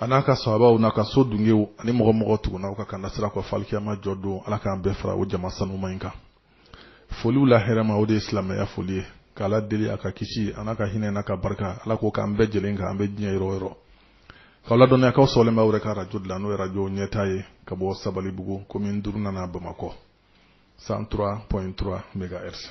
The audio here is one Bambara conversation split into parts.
a n'a ka sahabaw n'a ka so dungew ani mɔgɔ mɔgɔ tugunna u ka kanda sira kɔ f'alikiyama jɔ don ala k'an bɛɛ fara o jama sanuma in kan foliw la hɛrɛma o de ye silamɛya foli ye k'ala deli a ka kisi a n'a ka hinɛ n'a ka barika ala k'o k'an bɛɛ jɛlen kan an bɛ diɲɛ yɔrɔ yɔrɔ k'aw ladɔnniya k'aw sɔgɔlen bɛ aw yɛrɛ ka arajo de la n'o ye arajo ɲɛta ye ka bɔ sabalibugu komin duurunan na bamakɔ 103.3 megahertz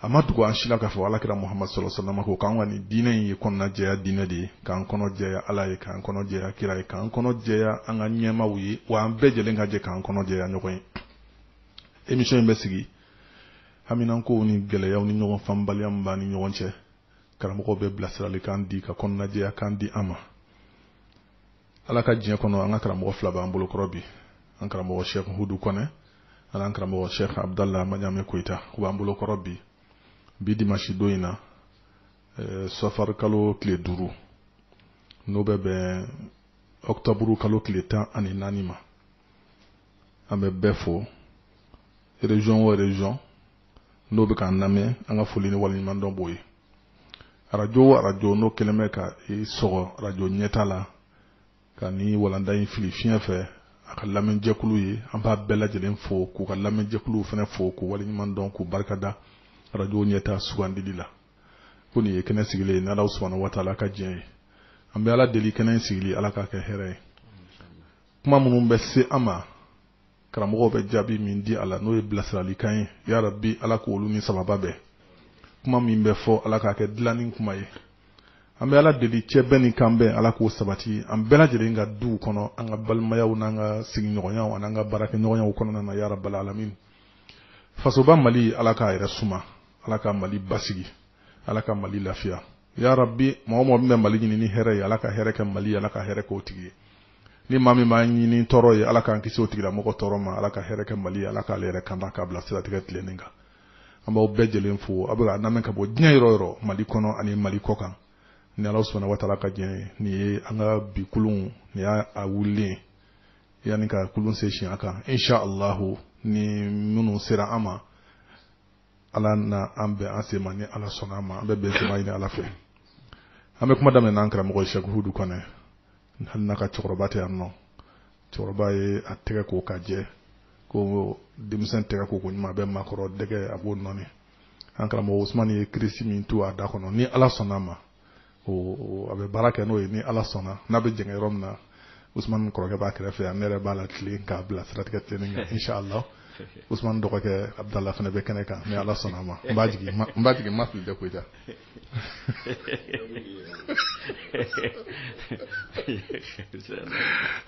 a ma dogo an si la k'a fɔ alakira muhamadu salalahu wasalama ko k'an ka nin diinɛ in ye kɔnɔna jɛya diinɛ de ye k'an kɔnɔ jɛya ala ye k'an kɔnɔ jɛya kira ye k'an kɔnɔ jɛya an ka ɲɛmaaw ye wa an bɛɛ jɛlen ka jɛ k'an kɔnɔ jɛya ɲɔgɔn ye emission in bɛ sigi haminankow ni gɛlɛyaw ni ɲɔgɔn faamubaliya min b'an ni ɲɔgɔn cɛ karamɔgɔw bɛ bilasiralikan di ka kɔnɔnajɛyakan di an ma ala ka diɲɛ kɔnɔ an ka karamɔgɔ fila b'an bolokɔrɔ bi an karamɔgɔ shekh hudu kɔnɛ ani an karamɔgɔ shekh abdallah maɲame koyita u b'an bolokɔrɔ bi bi dimasi don in na eh, safari kalo tile duuru n'o bɛ bɛn ɔkutɔburu kalo tile tan ani naani ma an bɛ bɛɛ fo région o région n'o bɛ k'an lamɛn an ka foli ni waleɲuman dɔn b'o ye arajo o arajo n'o kɛlen bɛ ka i sɔgɔ arajo ɲɛta la ka ni walanda in fili fiɲɛ fɛ a ka lamɛnjɛkulu ye an b'a bɛɛ lajɛlen fo k'u ka lamɛnjɛkuluw fana fo k'u waleɲuman dɔn k'u barikada arajo ɲɛta sugandili la ko nin ye kɛnɛ sigilen ye n'ala subahana wataala ka diɲɛ ye an bɛ ala deli kɛnɛ in sigili ala k'a kɛ hɛrɛ ye kuma minnu bɛ se an ma karamɔgɔw bɛ jaabi min di a la n'o ye bilasiralikan ye ya rabi ala k'olu ni sawaba bɛn kuma min bɛ fɔ ala k'a kɛ dilanni kuma ye an bɛ ala deli cɛ bɛn ni kan bɛn ala k'o sabati an bɛɛ lajɛlen ka duw kɔnɔ an ka balimayaw n'an ka sigiɲɔgɔnyaw an'an ka baarakɛɲɔgɔnyaw kɔnɔna na ya rabbal alamin fasoba mali ala k'a yɛrɛ suma ala ka mali basigi ala ka mali lafiya ya rabbi mɔgɔ mɔgɔ min bɛ mali ɲini ni hɛrɛ ye ala ka hɛrɛ kɛ mali ala ka hɛrɛ k'o tigi ye ni maa min b'a ɲini tɔɔrɔ ye ala k'an kisi o tigilamɔgɔ tɔɔrɔ ma ala ka hɛrɛ kɛ mali ala k'ale yɛrɛ kanda k'a bila siratigɛ tilennen kan an b'aw bɛɛ lajɛlen fo aw bɛ a lamɛn ka bɔ diɲɛ yɔrɔ yɔrɔ mali kɔnɔ ani mali kɔkan ni ala subahana wataala ka diɲɛ ye nin ye an ka bi kulun nin y'a wulilen yanni ka kulun se siɲɛ kan insha allahu ni minnu sera an ma ala n'a bɛn an sen ma ni ala sɔnna a ma an bɛ bɛnsenma ɲini ala fɛ an bɛ kuma daminɛ n'an karamɔgɔ ye sɛku hudu kɔnɛ hali n'a ka cɛkɔrɔba tɛ yan nɔ cɛkɔrɔba ye a tɛgɛ ko ka jɛ ko denmisɛn tɛgɛ ko ko ɲuman a bɛ maakɔrɔ dɛgɛ a b'o nɔɔni an karamɔgɔ usumani ye kirisi min to a da kɔnɔ ni ala sɔnna a ma a bɛ baara kɛ n'o ye ni ala sɔnna n'a bɛ dɛsɛ yɔrɔ min na o kɔrɔkɛ b'a kɛrɛfɛ yan ne yɛrɛ b'a latilen k'a bila siratigɛ tɛ sa la o dɔgɔkɛ a bɛ la fana bɛ kɛnɛ kan ni ala sɔnna ma n b'a jigi ma fili tɛ koyi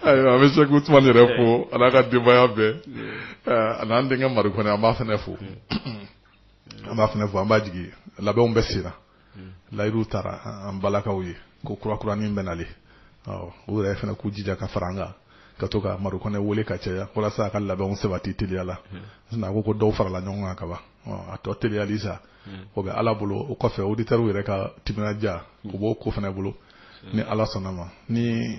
ayiwa an bɛ se usman yɛrɛ fo an'a ka denbaya bɛɛ ani'an denkɛ mari kɔnɛ an b'a fana fo an b'a fana fo an b'a jigi labɛnw bɛ sen na hmm. layidu taara an balimakɛw ye ko kurakuranin bɛ na le u yɛrɛ fana k'u jija ka fara an kan ka to ka mari kɔnɛ wele ka caya walasa a ka labɛnw sabati teliya la hmm. a ko ko dɔw farala ɲɔgɔn kan kaban a tɔ teliyali sa hmm. o bɛ ala bolo o kɔfɛ oditɛriw yɛrɛ ka timinandiya o b'o ko fana bolo ni ala sɔnna ma ni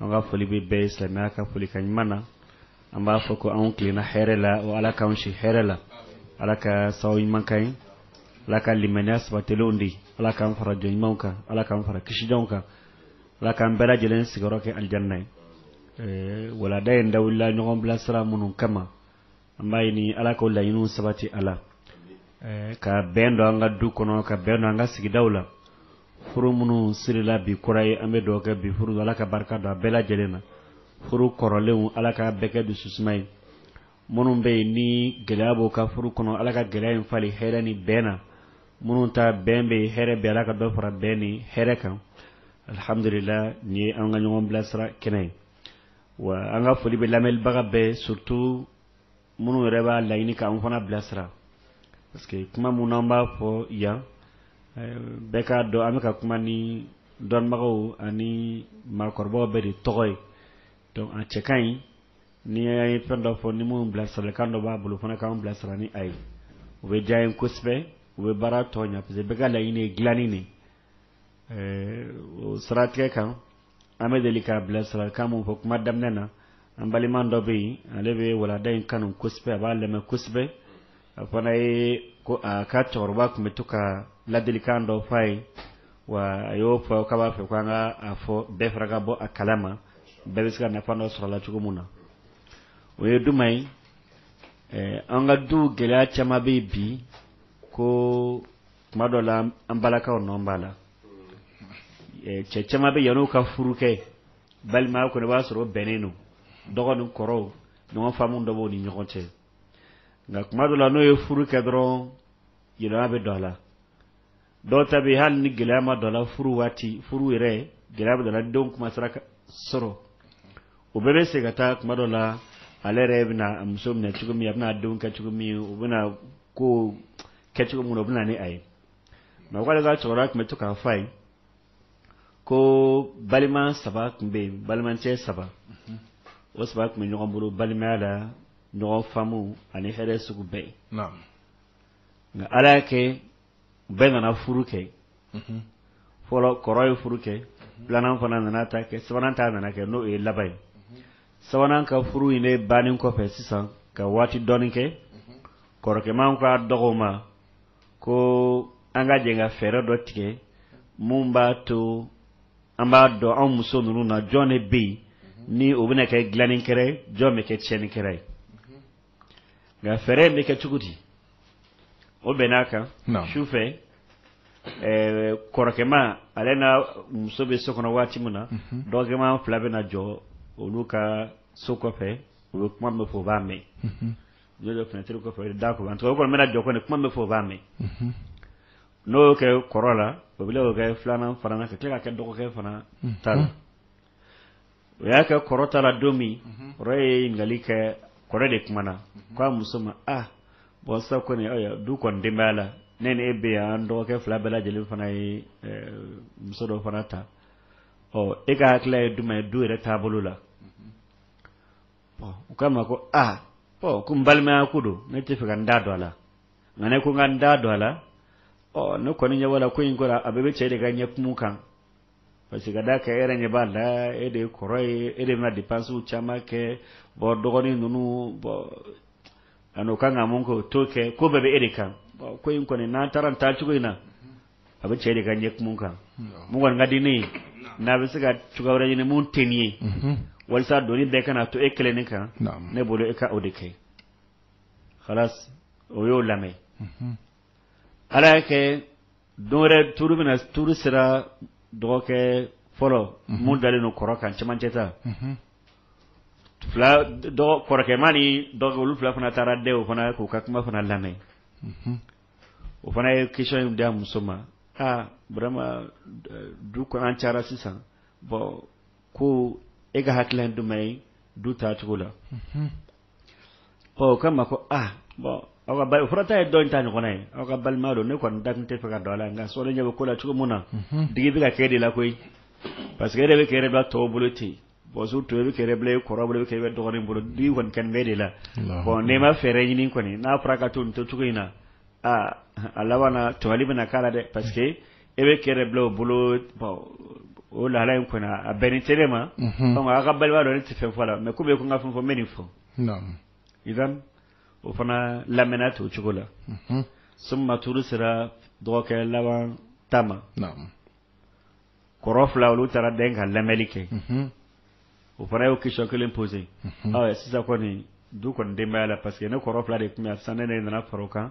an ka foli bɛ bɛɛ ye silamɛya ka folikan ɲuman na an b'a fɔ ko anw tilenna hɛrɛ la o ala k'an si hɛrɛ la ala ka sababu ɲuman ka ɲi ala ka limaniya sabatilenw di ala k'an fara jɔn ɲumanw kan ala k'an fara kisijɔnw kan ala k'an bɛɛ lajɛlen sigiyɔrɔ kɛ alijanna ye walanda in dabɔla ɲɔgɔn bilasira minnu kama An b'a ɲini Ala k'o laɲiniw sabati Ala, ɛɛ ka bɛn don an ka du kɔnɔ, ka bɛn don an ka sigidaw la, furu minnu sirila bi kura ye, an bɛ dugawu kɛ bi furu Ala ka barika don a bɛɛ lajɛlen na, furu kɔrɔlenw Ala ka bɛɛ kɛ dususuma ye, minnu bɛ yen ni gɛlɛya b'u ka furu kɔnɔ Ala ka gɛlɛya in falen hɛrɛ ni bɛn na, minnu ta bɛn bɛ yen hɛrɛ bɛ yen Ala ka dɔ fara bɛn ni hɛrɛ kan, alihamudulila nin ye an ka ɲɔgɔn bilasira kɛnɛ ye. wa an ka foli bɛ lamɛnbaga bɛɛ surtout minnu yɛrɛ b'a laɲini k' an fana bilasira parce que kuma minnu an b'a fɔ yan bɛɛ k'a dɔn an bɛka ka kuma ni dɔnbagaw ani maakɔrɔba bɛɛ de tɔgɔ ye donc a cɛ ka ɲi n'an ye fɛn dɔ fɔ ni minnu bilasirakan dɔ b'a bolo fana k'an bilasira ni a ye o bɛ diya an ye kosɛbɛ o bɛ baara tɔ ɲɛ parce que bɛɛ ka laɲini ye dilanni de o siratigɛ kan an bɛ deli ka bilasirakan min fɔ kuma daminɛ na an balima dɔ bɛ yen ale bɛ walanda in kanu kosɛbɛ a b'a lamɛn kosɛbɛ a fana ye ko a ka cɛkɔrɔba tun bɛ to ka ladilikan dɔ fɔ a ye wa a y'o fɔ k'a b'a fɛ ko an ka a fɔ bɛɛ fana ka bɔ a kalama bɛɛ bɛ se ka nafa dɔ sɔrɔ a la cogo min na o ye jumɛn ye an ka du gɛlɛya caman bɛ yen bi ko tuma dɔ la an balimakɛw nɔ b'a la cɛ caman bɛ yan'u ka furu kɛ balimaya kɔnɔ i b'a sɔrɔ bɛnnen don dɔgɔ ni kɔrɔw ɲɔgɔn faamu dɔ b'u ni ɲɔgɔn cɛ nka tuma dɔ la n'u ye furu kɛ dɔrɔn yɛlɛma bɛ don a la dɔw ta bɛ yen hali ni gɛlɛya ma don a la furu waati furu yɛrɛ gɛlɛya bɛ don a la denw kuma sera sɔrɔ o bɛɛ bɛ segin ka taa tuma dɔ la ale yɛrɛ bɛna a muso minɛ cogo min a bɛna denw kɛ cogo min o bɛna ko kɛ cogo min na o bɛ na ni a ye mais o k'ale ka cɛkɔrɔba tun bɛ to k'a fɔ a ye ko balima saba tun bɛ yen balimacɛ saba o saba tun bɛ ɲɔgɔn bolo balimaya la ɲɔgɔn faamu ani hɛrɛ sugu bɛɛ ye nka ala y'a kɛ bɛɛ nana furu kɛ fɔlɔ kɔrɔ ye furu kɛ filanan fana nana ta kɛ sabanan ta nana kɛ n'o ye laban ye sabanan ka furu in de bannen kɔfɛ sisan ka waati dɔɔnin kɛ kɔrɔkɛman ko a dɔgɔw ma ko an ka jɛ ka fɛɛrɛ dɔ tigɛ mun b'a to an b'a dɔn anw muso ninnu na jɔn de bɛ yen ni o bɛna kɛ dilanikɛra ye jɔn bɛ kɛ tiɲɛnikɛra ye nka fɛɛrɛ in bɛ kɛ cogo di o bɛnna a kan su fɛ kɔrɔkɛma ale n'a muso bɛ so kɔnɔ waati min na mhm. dɔgɔkɛma fila bɛ na jɔ olu ka so kɔfɛ u bɛ kuma bɛɛ fɔ o b'a mɛn mhm. n'o dɔ finɛtiri kɔfɛ da kɔ tɔgɔ kɔni bɛna jɔ kɔni kuma bɛ fɔ o b'a mɛn mhm. n'o kɛra kɔrɔ la o bɛ kɛ filanan fana ka tila ka kɛ dɔgɔkɛ fana ta la o y'a kɛ kɔrɔ ta la don min kɔrɔ ye ɲininkali kɛ kɔrɔ de kumana k'a muso ma a bɔn sa kɔni du kɔni den b'a la ne e bɛ yan dɔgɔkɛ fila bɛɛ lajɛlen fana ye muso dɔ fana ta ɔ e ka hakili ye jumɛn ye du yɛrɛ taabolo la u k'a ma ko aa ɔ ko n balimaya ko don ne tɛ fɛ ka n da don a la nka n'i ko n ka n da don a la ɔ ne kɔni ɲɛ la ko in kɔrɔ a bɛɛ bɛ cɛ de ka ɲɛkumu kan parce que ka d'a kan e yɛrɛ ɲɛ b'a la e de ye kɔrɔ ye e de bɛna dépenses caman kɛ bon dɔgɔnin ninnu bon ani o kan ka mun kɛ o t'o kɛ ko bɛɛ bɛ e de kan bon ko in kɔni n'an taara nin taacogo in na a bɛ cɛ de ka ɲɛkumu kan mun kɔni ka di ne ye n'a bɛ se ka cogoya wɛrɛ ɲini mun tɛ nin ye walasa doni bɛɛ kana to e kelen ne kan ne bolo e ka o de kɛ halas o y'o lamɛn ala y'a kɛ don wɛrɛ tuuru bɛna tuuru sera dɔgɔkɛ fɔlɔ mun dalen don kɔrɔ kan cɛmancɛ ta kɔrɔkɛma ni olu fila fana taara dɛ o fana k'u ka kuma fana lamɛn o fana ye question da muso ma aa vraiment du an cayara sisan bɔn ko e ka hakili jumɛn ye du taacogo la ɔ k'a ma ko aa bɔn aw ka bal- o fana ta ye dɔ in ta ɲɔgɔnna ye aw ka balima don ne kɔni da tun tɛ fɛ ka don a la nka sɔɔni ɲɛ bɛ ko la cogo min na digi bɛ ka kɛ e de la koyi parce que e yɛrɛ bɛ k'i yɛrɛ bila tɔw bolo ten bɔn surtout e bɛ k'i yɛrɛ bila e kɔrɔ bolo e bɛ kɛ e bɛ dɔgɔnin bolo digi kɔni kɛlen bɛ e de la bɔn n'i ma fɛɛrɛ ɲini kɔni n'a fɔra ka to nin to cogo in na aa a laban na tɔɲɔli bɛna k'a la dɛ parce que e bɛ kɛlɛ bila o bolo o la in kɔnɔ a bɛnnen tɛ ma aw ka balima dɔ tɛ fɛn fɔ lamɛn ko bɛ tun ka fɛn fɔ mɛn nin fɔ i o fana lamɛn to o cogo la so tour sera dɔgɔkɛ laban ta ma kɔrɔ fila olu taara bɛn ka lamɛnli kɛ o fana y'o question kelen pose sisan kɔni du kɔni denbaya' la parce que ne kɔrɔ fila de tun san ne nana fara kan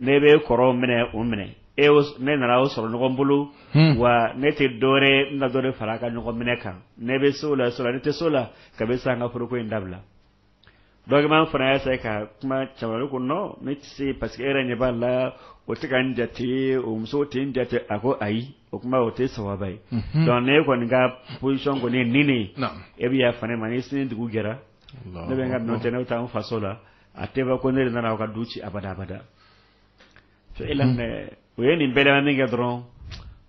ne bɛ kɔrɔw minɛ o minɛ e ne nana o sɔrɔ ɲɔgɔn bolo wa ne tɛ dɔwɛrɛ n ka dɔ fara ka ɲɔgɔn minɛ kan ne bɛ so la sɔrɔ ne tɛ so la k'a bɛ sɔn ka furuko in dabila dɔgɔma fana y'a se ka kuma cɛba ko non ne tɛ se parce que e yɛrɛ ɲɛ b'a la o tɛ ka n jate o muso tɛ n jate a ko ayi o tuma o tɛ sababa ye donc ne kɔni ka position kɔni ni e bɛ' fa ne ma ni sini dugu jɛra ne bɛ ka nɔ tɛ ne bɛ taa n faso la a tɛ ko ne nana aw ka du ci abada abada to e o ye nin bɛɛ min kɛ dɔrɔn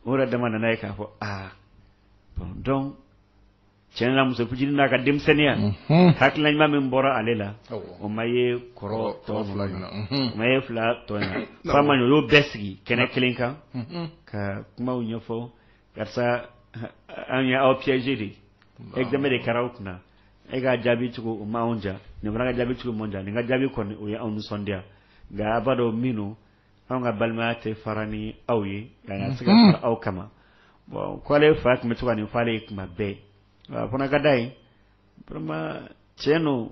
o yɛrɛ dama nana ye k'a fɔ aa donc tiɲɛ na muso fitinin n'a ka denmisɛnninya hakilila ɲuman min bɔra ale la o ma ye kɔrɔ tɔ fila o ma ye fila tɔ fa ma o y'o bɛɛ sigi kɛnɛ kelen kan ka kumaw ɲɛfɔ karisa an ye aw piéger de ye e dɛmɛ de kɛra aw kunna e ka jaabi cogo o ma anw diya nin fana ka jaabi cogo ma an diya nin ka jaabi kɔni o ye anw nisɔndiya nka a b'a dɔn minnu anw ka balimaya tɛ fara ni aw ye ka se ka mhm. fara aw kama bon k'ale fa tun bɛ to ka nin f'ale ye tuma bɛɛ a fana ka da ye vraiment tiɲɛ don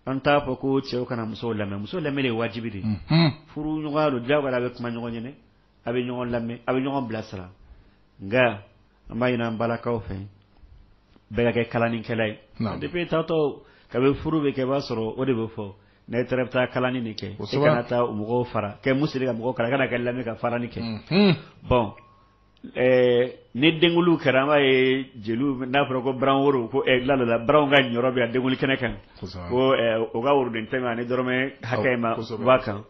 an t'a fɔ ko cɛw kana musow lamɛn muso lamɛn de ye wajibi de ye mhm. furu ɲɔgɔnya don diyagoya a bɛ kuma ɲɔgɔn ɲɛ na a bɛ ɲɔgɔn lamɛn a bɛ ɲɔgɔn bilasira nka An b'a ɲini an balakaw fɛ bɛɛ ka kɛ kalalikɛla ye, naam, depuis i taatɔ kabini furu bɛ kɛ i b'a sɔrɔ o de bɛ fɔ n'i taara i bɛ taa kalali de kɛ, kosɛbɛ, i kana taa o mɔgɔw fara kɛ min sera ka mɔgɔw kala i kana kɛ lamɛn ka farali kɛ, unhun, bon ɛɛ ni denkundi kɛra an b'a ye jeliw n'a fɔra ko baran woro ko ɛ la dɔ la baranw ka niyɔrɔ bɛ yan denkundi kɛnɛ kan, kosɛbɛ, ko ɛ o ka woroden tan in ma ani dɔrɔmɛ hakɛ in ma, kosɛbɛ, bɔ a kan,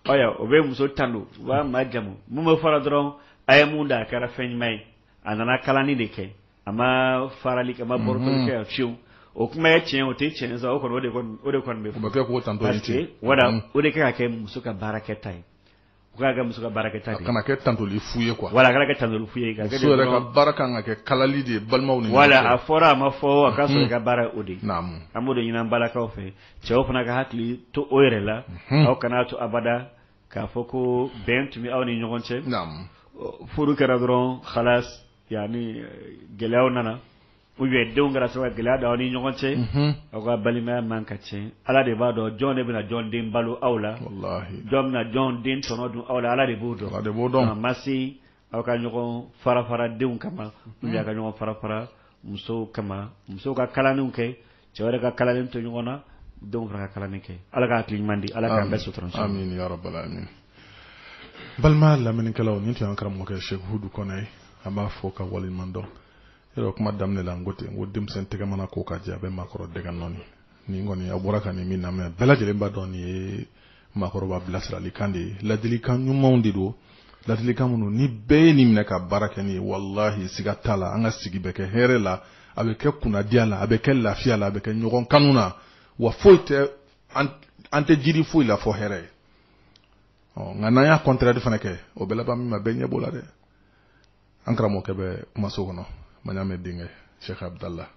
ɔ o bɛ muso tando u b'a majamu minnu bɛ fara dɔrɔn a ye mun da a kɛra fɛn ɲuman ye a nana kalali de kɛ a ma farali kɛ a ma bɔrɔtɔli kɛ fiyewu o kuma ye tiɲɛ o tɛ tiɲɛ sa o kɔni o de kɔni o de kɔni bɛ fɔ. o bɛ kɛ k'o tando ye tiɲɛ wala o de kɛ ka kɛ muso ka baarakɛta ye o ka kɛ muso ka baarakɛta de ye a kana kɛ tandoli fu ye quoi wala a kana kɛ tandoli fu ye muso yɛrɛ ka baara ka kan ka kɛ kalali de ye balimaw ni wala a fɔra a ma fɔ a ka sɔrɔ i ka baara o de ye naamu an b'o de ɲini an balakaw fɛ cɛw fana ka hakili to o yɛrɛ la aw kana to abada k'a fɔ ko bɛn tun bɛ aw ni ɲɔgɔn cɛ furu kɛra dɔrɔn halas yanni gɛlɛyaw nana u ye denw kɛra sababu gɛlɛya da aw ni ɲɔgɔn cɛ aw ka balimaya man ka cɛn ala de b'a dɔn jɔn de bɛna jɔn den balo aw la jɔn bɛna jɔn den tɔnɔ dun aw la ala de b'o dɔn don ma se aw ka ɲɔgɔn fara fara denw kama u y'a ka ɲɔgɔn fara fara musow kama musow ka kalanw kɛ cɛw yɛrɛ ka kalalen to ɲɔgɔn na denw fana ka kalalen kɛ ala ka hakili ɲuman di ala k'an bɛɛ sutura amin ya rabbal alamin balima lamɛnnikɛlaw nin tun y'an karamɔgɔkɛ Sheikh Hudu Kɔnɛ ye an b'a fo k'a waleɲuman dɔn yɔrɔ kuma daminɛ la n ko ten n ko denmisɛn tɛgɛ mana ko ka jɛ a bɛ maakɔrɔ dɛgɛ nɔɔni nin kɔni an bɔra ka nin min lamɛn bɛɛ lajɛlen b'a dɔn nin ye maakɔrɔba bilasirali kan de ye ladilikan ɲumanw de don ladilikan minnu ni bɛɛ ye nin minɛ ka baara kɛ nin ye walahi siga t'a la an ka sigi bɛ kɛ hɛrɛ la a bɛ kɛ kunnadiya la a bɛ kɛ lafiya la a bɛ kɛ ɲɔgɔn kanu na wa foyi tɛ an tɛ jigi foyi la fo hɛrɛ ye ɔ nka n'an y'a contraire fana kɛ o bɛ laban min ma bɛɛ ɲɛ b'o la dɛ an karamɔgɔkɛ bɛ kumaso kɔnɔ ma y'a mɛn denkɛ Sheikh Abudala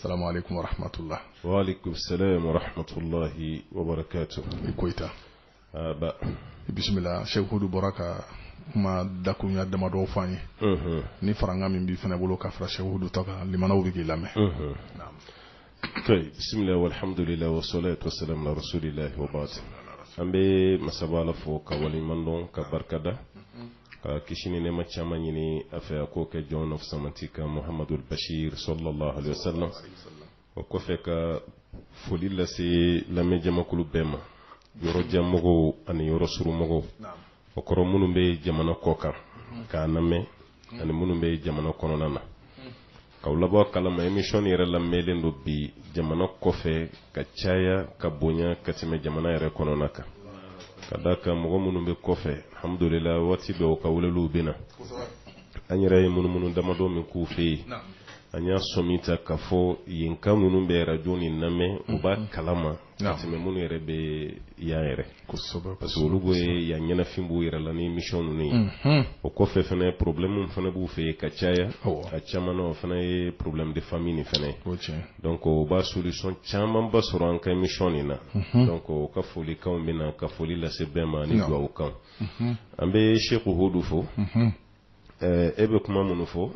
salamu alaikum wa rahmatula Sheikh Abudulahi Koita i bisimila Sheikh Hudu bɔra ka kuma dakuruya damadɔ fɔ ye ni farankan min b'i fana bolo k'a fara Sheikh Hudu ta kan balimaw bɛ k'i lamɛn bisimila walhamdulila wasalatu wasalamu alal bashir an bɛ masaba fo k'a waleɲumandɔn k'a barikada ka kisi ni nɛɛma caman ɲini a fɛ a k'o kɛ jɔnw na fusamanti kan muhamadu bashir sallallahu alaihi wasallam o kɔfɛ ka foli lase lamɛn jamakulu bɛɛ ma yɔrɔ janmɔgɔw ani yɔrɔ surunmɔgɔw o kɔrɔ minnu bɛ jamana kɔ kan k'a lamɛn ani minnu bɛ jamana kɔnɔna na K'aw labɔ a kalama émission nin yɛrɛ lamɛlen don bi jamana kɔfɛ ka caya ka bonya ka tɛmɛ jamana yɛrɛ kɔnɔna kan ka d'a kan mɔgɔ minnu bɛ kɔfɛ alhamdulila waati dɔw ka weleliw bɛ na an yɛrɛ ye munumunu damadɔ min k'u fɛ yen an y'a sɛmɛntiya k'a fɔ yenkaw minnu bɛ rajo nin lamɛn u b'a kalama Naamu. ka tɛmɛ minnu yɛrɛ bɛ yan yɛrɛ kosɛbɛ parce que olu bɛ yan ɲɛnafin b'u yɛrɛ la ni émission ninnu ye Mhm. o kɔfɛ fana problème min fana b'u fɛ yen ka caya Awɔ. a caman na o fana ye problème de famille nin fana ye o tiɲɛ donc u b'a solution camanba sɔrɔ an ka émission nin na donc u ka folikanw bɛ na ka foli lase bɛɛ ma ni Naamu. dugawu kan an bɛ Sheikh Hudu fo Mhm. ɛɛ e bɛ kuma minnu fɔ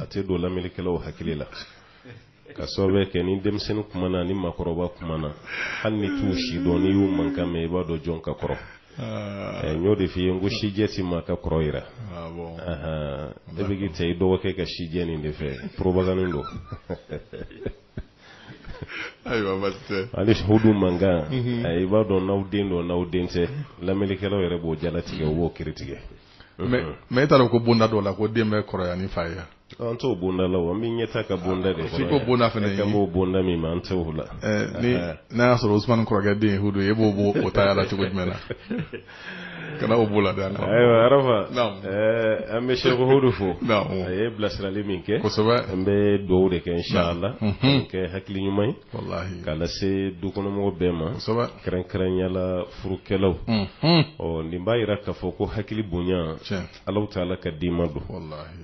a tɛ don lamɛnnikɛlaw hakili la ka sababu kɛ ni denmisɛnnin kumana ni makɔrɔba kumana hali n'i t'u si dɔn n'i y'u mankan mɛn i b'a dɔn jɔn ka kɔrɔ ah. n y'o de f'i ye n ko sijɛ ti maa ka kɔrɔ yira ah, e bɛ k'i ta i dɔgɔkɛ ka sijɛ nin de fɛ porobagannin don ani hudu mankan mhm. i b'a dɔn n'aw den don n'aw den tɛ lamɛnnikɛlaw yɛrɛ b'o jalatigɛ u b'o kiritigɛ mais e taara ko bonda dɔw la ko den bɛ kɔrɔ ni fa ye an t'o bonda la wa min ɲɛ ka bonda de ko bonda fana b'o bonda min an t la n'a y'a sɔrɔ oumana kɔrɔkɛ den don e b'o bɔ o ta la cogo jumɛn na kana o b'o la ayiwa araba an bɛ sekodu fo a ye bilasirali min kɛ an bɛ dugawu de kɛ ala k'a kɛ hakili ɲuman ye walahi k'a lase dukɔnɔmɔgɔ bɛɛ ma kosɛbɛ kɛrɛnkɛrɛnya la furukɛlaw ɔ nin b'a yira k'a fɔ ko hakili bonya alahu taala ka dima don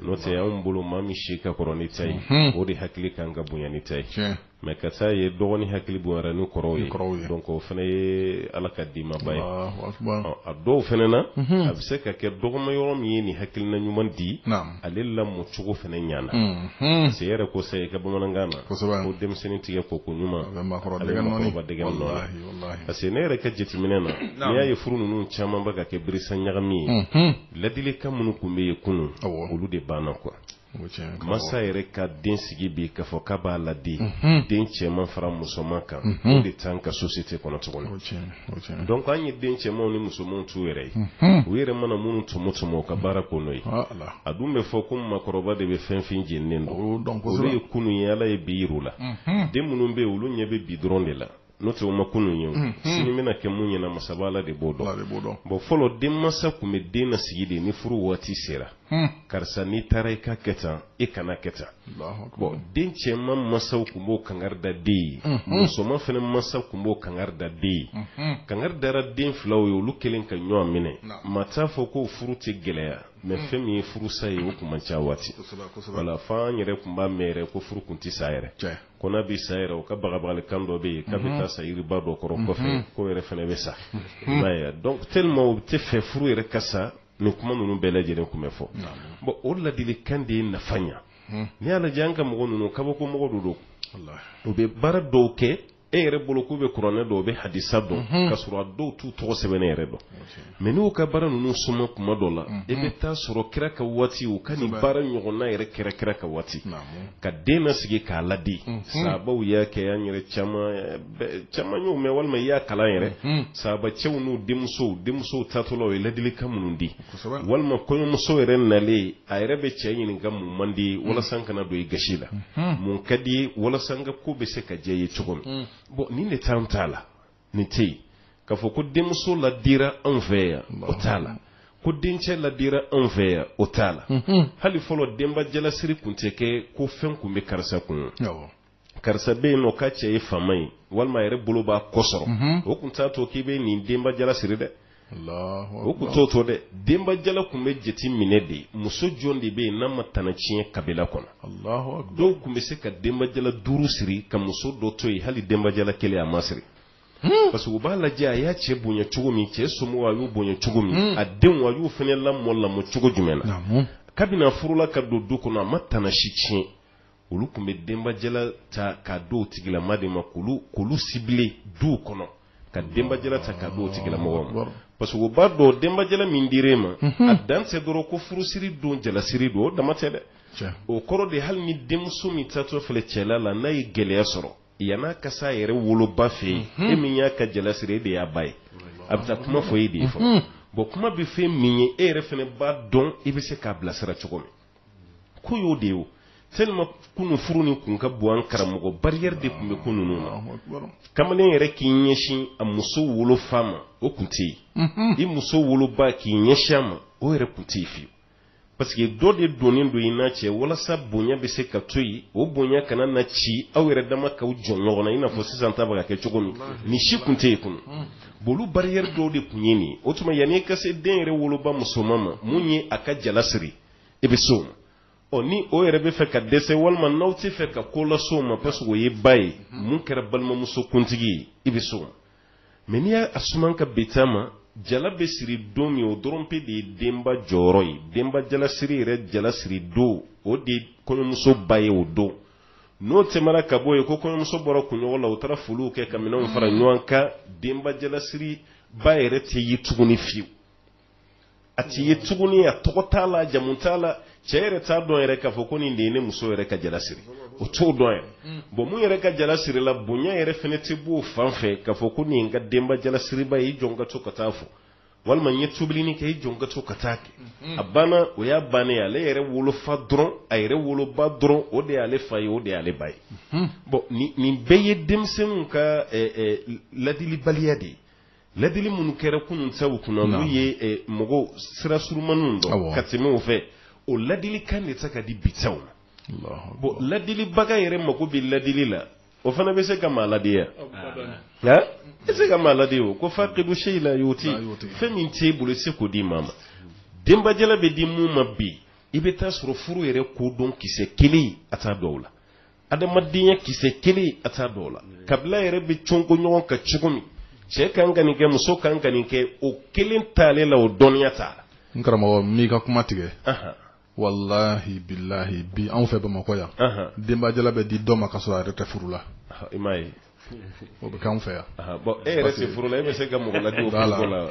n'o tɛ anw bolo maa min si ka kɔrɔ n'i ta ye o de hakili kan ka bonya n'i ta ye mais ka t'a ye dɔgɔnin hakili bonyara ni kɔrɔw ye donc o fana ye ala ka dimaba ye a dɔw fana na a bɛ se ka kɛ dɔgɔma yɔrɔ min ye nin hakilina ɲuman di ale lamɔ cogo fana ɲana mhm. se yɛrɛ ko sayi ka bamanankan na ko denmisɛnnin tigɛ ko ko ɲuman a bɛ makɔrɔba dɛgɛ nɔɔni parce que ne yɛrɛ ka jateminɛ na n'i y'a ye furu ninnu caman bɛ ka kɛ birisa ɲagami ye mhm. ladilikan minnu tun bɛ yen kunun olu de banna quoi masa yɛrɛ ka den sigi bi k'a fɔ k'a b'a ladi mhm. den cɛman fara musoman kan o de t'an ka société kɔnɔ tuguni donc an ye den cɛmanw ni musomanw t'u yɛrɛ ye u yɛrɛ mana minnu tɔmɔ tɔmɔ ka baara kɛ n'o ye a dun bɛ fɔ ko numu kɔrɔba de bɛ finfin jeninen dɔn olu ye kunun ye ala ye bi yir'u la den minnu bɛ olu ɲɛ bɛ bi dɔrɔn de la n'o tɛ u ma kunun ye sini bɛna kɛ mun ɲɛ na masaba ala de b'o dɔn bon fɔlɔ den masa tun bɛ den nasigi de ni furu waati sera karisa n'i taara i ka kɛ tan e kana kɛ tan den cɛman masaw tun b'o kanga da den ye musoman fana masa tun b'o kanga da den ye kanga dara den filaw ye olu kelen ka ɲɔgɔn minɛ maa t'a fɔ ko furu tɛ gɛlɛya mais fɛn min ye furusa ye o tun man ca waati o la fo an yɛrɛ tun b'a mɛn yɛrɛ ko furu tun tɛ sa yɛrɛ ko n'a bɛ sa yɛrɛ u ka bagabagali kan dɔ bɛ yen k'a bɛ taa sa yiriba dɔ kɔrɔ kɔfɛ k'o yɛrɛ fana bɛ sa i b'a ye donc tellement u t'a fɛ furu yɛrɛ ka sa ni kuma ninnu bɛɛ lajɛlen tun bɛ fɔ bon o ladili kan de ye nafa ɲɛ hmm. n'i y'a lajɛ an ka mɔgɔ ninnu kabako mɔgɔ don don u bɛ baara dɔw kɛ e yɛrɛ bolo k'u bɛ kuranɛ dɔn u bɛ hadisa dɔn hmm. ka sɔrɔ a dɔw t'u tɔgɔ sɛbɛn yɛrɛ dɔn mais n'u ka baara ninnu suma kuma dɔ la hmm. e bɛ taa sɔrɔ kira ka waati u ka nin baara ɲɔgɔnna yɛrɛ kɛra kira ka waati ka den nasigi k'a ladi sabaw y'a kɛ an yɛrɛ caman caman y'o mɛn walima i y'a kalan yɛrɛ hmm. saabacɛw n'u denmuso denmuso taatɔ la u ye ladilikan minnu di walima kɔɲɔmuso yɛrɛ nalen a yɛrɛ bɛ cɛ ɲininka mun man di hmm. walasa n kana don i gasi la hmm. mun ka di walasa n ka ko bɛ se ka diya i ye cogo min bon nin de t'an ta la nin tɛ yen k'a fɔ ko denmuso ladira anw fɛ yan o t'a la ko dencɛ ladira anw fɛ yan o t'a la hali fɔlɔ denba jalasiri tun tɛ kɛ ko fɛn tun bɛ karisa kun karisa bɛ yen n'o ka cɛ ye faama ye walima a yɛrɛ bolo b'a kɔ sɔrɔ mhm. o tun t'a to k'i bɛ nin denba jala siri dɛ o tun t'o to dɛ denba jala tun bɛ jate minɛ de ye muso jɔn de bɛ yen n'a ma tana tiɲɛ kabila kɔnɔ dɔw tun bɛ se ka denba jala duuru siri ka muso dɔ to yen hali denba jala kelen a ma siri hmm. parce que u b'a lajɛ a y'a cɛ bonya cogo min cɛ somɔgɔw a y'u bonya cogo min hmm. a denw a y'u fana lamɔ lamɔ cogo jumɛn na kabini a furula ka don du kɔnɔ a ma tana si tiɲɛ olu tun bɛ denbajala ta ka d'o tigilama de ma kulu sigilen du kɔnɔ ka denbajala ta ka d'o tigilamɔgɔ ma parce que u b'a dɔn denbajala min dira e ma a dan tɛ dɔrɔn ko furusiri don jalasiri don o dama tɛ dɛ o kɔrɔ de hali ni denmuso min taatɔ filɛ cɛla la n'a ye gɛlɛya sɔrɔ yann'a ka t'a yɛrɛ woloba fɛ yen e min y'a ka jalasiri e de y'a ba ye a bɛ taa kuma fɔ e de ye fɔ bon kuma bɛ fɛn min ye e yɛrɛ fana b'a dɔn i bɛ se k'a bilasira cogo min ko y'o de ye sema kunun furu ni kun ka bon an karamɔgɔ barrière de tun bɛ ko ninnu na kamalen yɛrɛ k'i ɲɛsin a muso wolo fa ma o tun tɛ yen i muso woloba k'i ɲɛsin a ma o yɛrɛ tun tɛ yen fiyewu parce que dɔ de donnen don i n'a cɛ walasa bonya bɛ se ka to yen o bonya kana na ci aw yɛrɛ dama k'aw jɔ ɲɔgɔn na i n'a fɔ sisan ta bɛ ka kɛ cogo min nin si tun tɛ yen kunun bon olu barrière dɔw de tun ye nin ye o tuma yanni i ka se den yɛrɛ woloba musoman ma min ye a ka jala siri i bɛ s'o ma ni o yɛrɛ bɛ fɛ ka dɛsɛ walima n'aw t'a fɛ ka ko las'o ma parce que o ye ba ye min kɛra balimamuso kuntigi ye i bɛ s'o ma n'i y'a suman ka bɛn ma jala bɛ siri don min o dɔrɔn pe de ye denba jɔyɔrɔ ye denba jalasiri yɛrɛ jalasiri don o de ye kɔɲɔmuso ba ye o don n'o tɛmɛna ka bɔ yen ko kɔɲɔmuso bɔra kunɲɔgɔn la u taara foliw kɛ ka minɛnw fara ɲɔgɔn kan denba jalasiriba yɛrɛ tɛ ye tuguni fiyewu a t'i ye tuguni a tɔgɔ t'a la jamu t'a la cɛ yɛrɛ t'a dɔn yɛrɛ k'a fɔ ko nin de ye ne muso yɛrɛ ka jala siri o t'o dɔn yɛrɛ mm. bon min yɛrɛ ka jala sirila bonya yɛrɛ fɛnɛ tɛ b'o fan fɛ k'a fɔ ko nin ye n ka denba jala siriba ye i jɔ n ka to ka taa a fo walima n ye tobilini kɛ i jɔ n ka to ka taa kɛ mm-hmm. a banna o y'a bannen ale yɛrɛ wolofa dɔrɔn a yɛrɛ woloba dɔrɔn o de y'ale fa ye o de y'ale ba ye mm-hmm. bon nin bɛɛ ye denmisɛnninw ka ladilibaliya de ye Ladili minnu kɛra kunun sababu kunna n' ye mɔgɔw sira surunmani ka tɛmɛ o fɛ o ladili kan de tɛ ka di bi taw ma bon ladilibaga yɛrɛ mako bɛ ladili la o fana bɛ se ka maa ladiya nka e se ka maa ladi o ko fa debuse la y'o ten fɛn min t'i bolo i tɛ se k'o di maa ma denbajala bɛ di minnu ma bi i bɛ t'a sɔrɔ furu yɛrɛ ko dɔn kisɛ kelen a t'a dɔw la adamadenya kisɛ kelen a t'a dɔw la kabila yɛrɛ bɛ cɔnko ɲɔgɔn ka cogo min cɛ kan ka nin kɛ muso kan ka nin kɛ o kelen taale la o dɔnniya t'a la n karamɔgɔ m'i ka kuma tigɛ walahi bilahi bi anw fɛ bamakɔ yan denbajala bɛ di dɔ ma k'a sɔrɔ a yɛrɛ tɛ furu la i m'a ye o bɛ k'an fɛ yan bon e yɛrɛ tɛ furu la e bɛ se ka mɔgɔ ladi o ko la wa